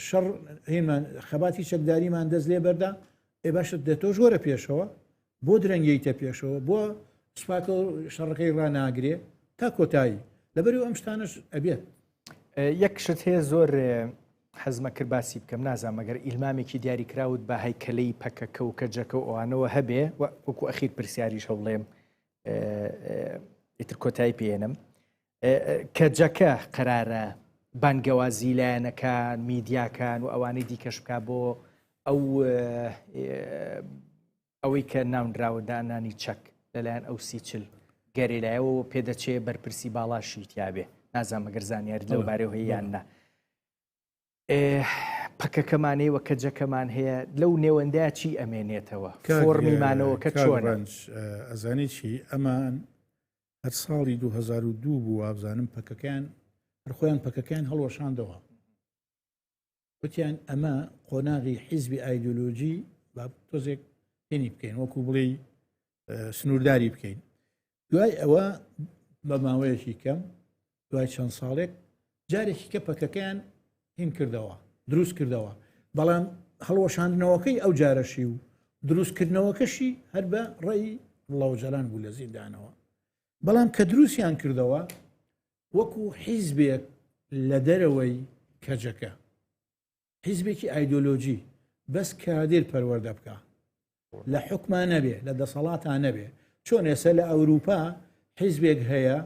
شەڕ هینمان خەباتی چەکداریمان دەست لێ بەردا ئێ باشە دە تۆش وەرە پێشەوە بۆ درەنگیتە پێشەوە بۆ سوپاکە شەڕەکەی ڕناگرێ تا کۆتایی لەبەر ئەم شتانش ئەبێت یەک شت هەیە زۆر حەزم کرد باسی بکەم نازانم ئەگەر ئیلمامێکی دیاری کراوت بە هەیکەلەی پەکەکە و کەجەکە و ئەوانەوە هەبێ و وەکو ئەخیر پرسیاریش هەوڵێم ئیتر کۆتایی پێێنم کەجەکە قرارە بانگەوازی لایەنەکان میدیاکان و ئەوانەی دیکەش بکە بۆ ئەو ئەوەی کە ناونراوە دانانی چەک لەلایەن ئەو سی چل گەریلایەوە پێدەچێ بەرپرسی باڵاشی تیاابێ نازانمە گەر زانیاری لەو بارەوە هەیەیان نە پەکەکەمانەی وە کە جەکەمان هەیە لەو نێوەندە چی ئەمێنێتەوە فۆڕمیمانەوە کە چۆنج ئەزانێت چی ئەمان هەر ساڵی 2002 بوو وابزانم پەکەکەیان هەرخۆیان پەکەکەیان هەڵوەشاندەوە وتیان ئەمە قۆناغی حیزبی ئایدۆلۆژی با تۆزێک پێنی بکەین وەکو بڵێ سنوورداری بکەین دوای ئەوە بە ماوەیەکی کەم دوای چەند ساڵێک جارێکی کە پەکەکەیان هین کردەوە دروست کردەوە بەڵام هەڵوەشاندنەوەکەی ئەو جارەشی و دروستکردنەوەکەشی هەر بە ڕێی ڵەوجەلان بوو لە زیندانەوە بەڵام کە دروستیان کردەوە وەکو حیزبێک لە دەرەوەی کەجەکە حیزبێکی ئایدۆلۆژی بەس کادر پەروەەردە بکە لە حکمان نەبێ لە دەسەڵاتان نەبێ چۆن ئێسە لە ئەوروپا حیزبێک هەیە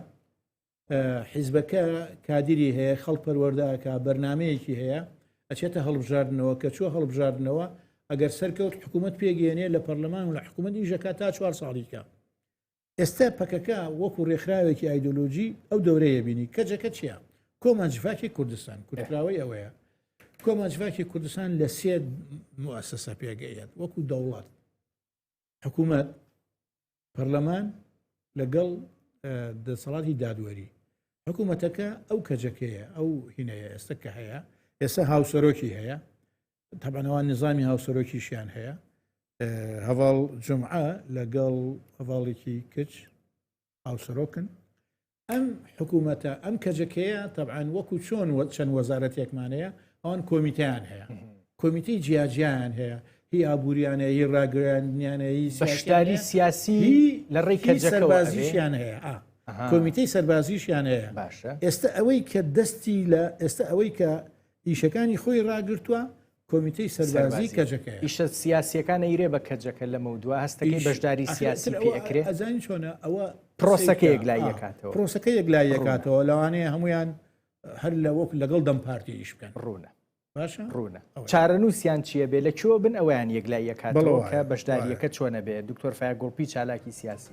حیزبەکە کادری هەیە خەڵ پەروەەردەکە بەرنمەیەکی هەیە ئەچێتە هەڵبژاردنەوە کە چوە هەڵبژاردنەوە ئەگەر سەرکەوت حکوومەت پێگەێنێ لە پەرلەمان و لە حکوومەت ئیژەکە تا چوار ساڵیکە ئێستا پەکەکە وەکو رێکخراوێکی ئایدۆلۆژی ئەو دەورەیە بینی کەجەکە چیە کۆمان جڤاکی کوردستان کوردراوەی ئەوەیە کۆمان جڤاکی کوردستان لە سێ موسسە پێگەیەت وەکو دەوڵات حکوومەت پەرلەمان لەگەڵ دەسەڵاتی دادوەری حکوومەتەکە ئەو کەجەکەیە ئەو هینەیە ئێستا کە هەیە ئێستا هاوسەرۆکی هەیە تەبەنەوە نظامی هاوسەرۆکیشیان هەیە هەواڵ جمعە لەگەڵ هەواڵێکی کچ هاوسەرۆکن ئەم حکوومەتە ئەم کەجەکەیە تەعاان وەکو چۆن چەند وەزارەتێکمانەیە ئەوان کۆمیتیان هەیە کۆمیتی جیاجیان هەیە هی ئابوووریانە هی ڕاگرانیانە هی بەشداری سیاسی لە ڕێی کەجەکەبازیشیان هەیە کۆمیتەی سەربازیشیان هەیە باشە ئێستا ئەوەی کە دەستی لە ئێستا ئەوەی کە ئیشەکانی خۆی ڕاگرتووە، کۆمیتەی سەربازی کەجەکەیە. ئیشە سیاسیەکان ئەیرێ بە کەجەکە لەمەو دوا هەستەکەی بەشداری سیاسی پێ ئەکرێ؟ ئەزانی چۆنە ئەوە پرۆسەکە یەکلایی ئەکاتەوە. پرۆسەکە یەکلایی ئەکاتەوە، لەوانەیە هەموویان هەر لە وەک لەگەڵ دەم پارتی ئیش بکەن. ڕوونە. باشە؟ ڕوونە. چارەنووسیان چییە بێ؟ لە کوێوە بن ئەویان یەکلایی ئەکاتەوە کە بەشدارییەکە چۆنە بێ؟ دکتۆر فایەق گوڵپی چالاکی سیاسی.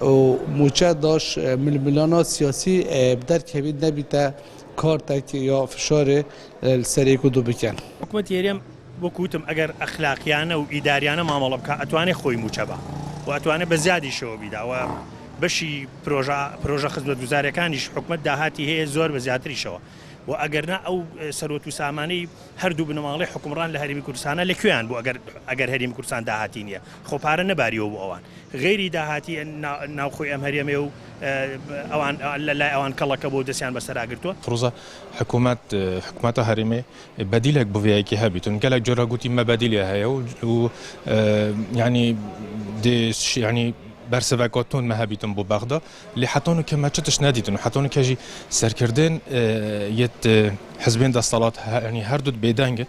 و موچە داش ململانا سیاسی بدر کەوید نەبیتە کارتەک یا فشارێ سەرێ کدو بکەن. حکومەتی هەرێم وەکو وتم ئەگەر ئەخلاقیانە و ئیداریانە مامەڵە بکا ئەتوانێ خۆی موچە با و ئەتوانێ بە زیادیشەوە بیدا و بەشی پرۆژە پرۆژە خزمەتگوزاریەکانیش حکومەت داهاتی هەیە زۆر بە زیاتریشەوە و ئەگەر نا ئەو سەروەت و سامانەی هەردوو بنەماڵەی حکومڕان لە هەرێمی کوردستانە لە کوێیان بوو ئەگەر ئەگەر هەرێمی کوردستان داهاتی نیە خۆ پارە نەباریەوە بۆ ئەوان غەیری داهاتی ناوخۆی ئەم هەرێمەیە و ئەوان لە لای ئەوان کەڵەکە بووە و دەستیان بەسەرا گرتووە. فروزە، حکوومەت، حکومەتە هەرێمێ بەدیلێک بووێە کە هەبیتن گەلەک جۆرە گووتی مە بەدیلێ هەیە و و یانی دێ شیانی بەرسڤە کۆتون مە هەبیتن بوو بەغدا لێ حەتۆن کە مە چ تش نەدیتن و حەتۆن کەژی سەرکردێن یەت حزبێن دەستەڵات هەنی هەردووت بێدەنگن.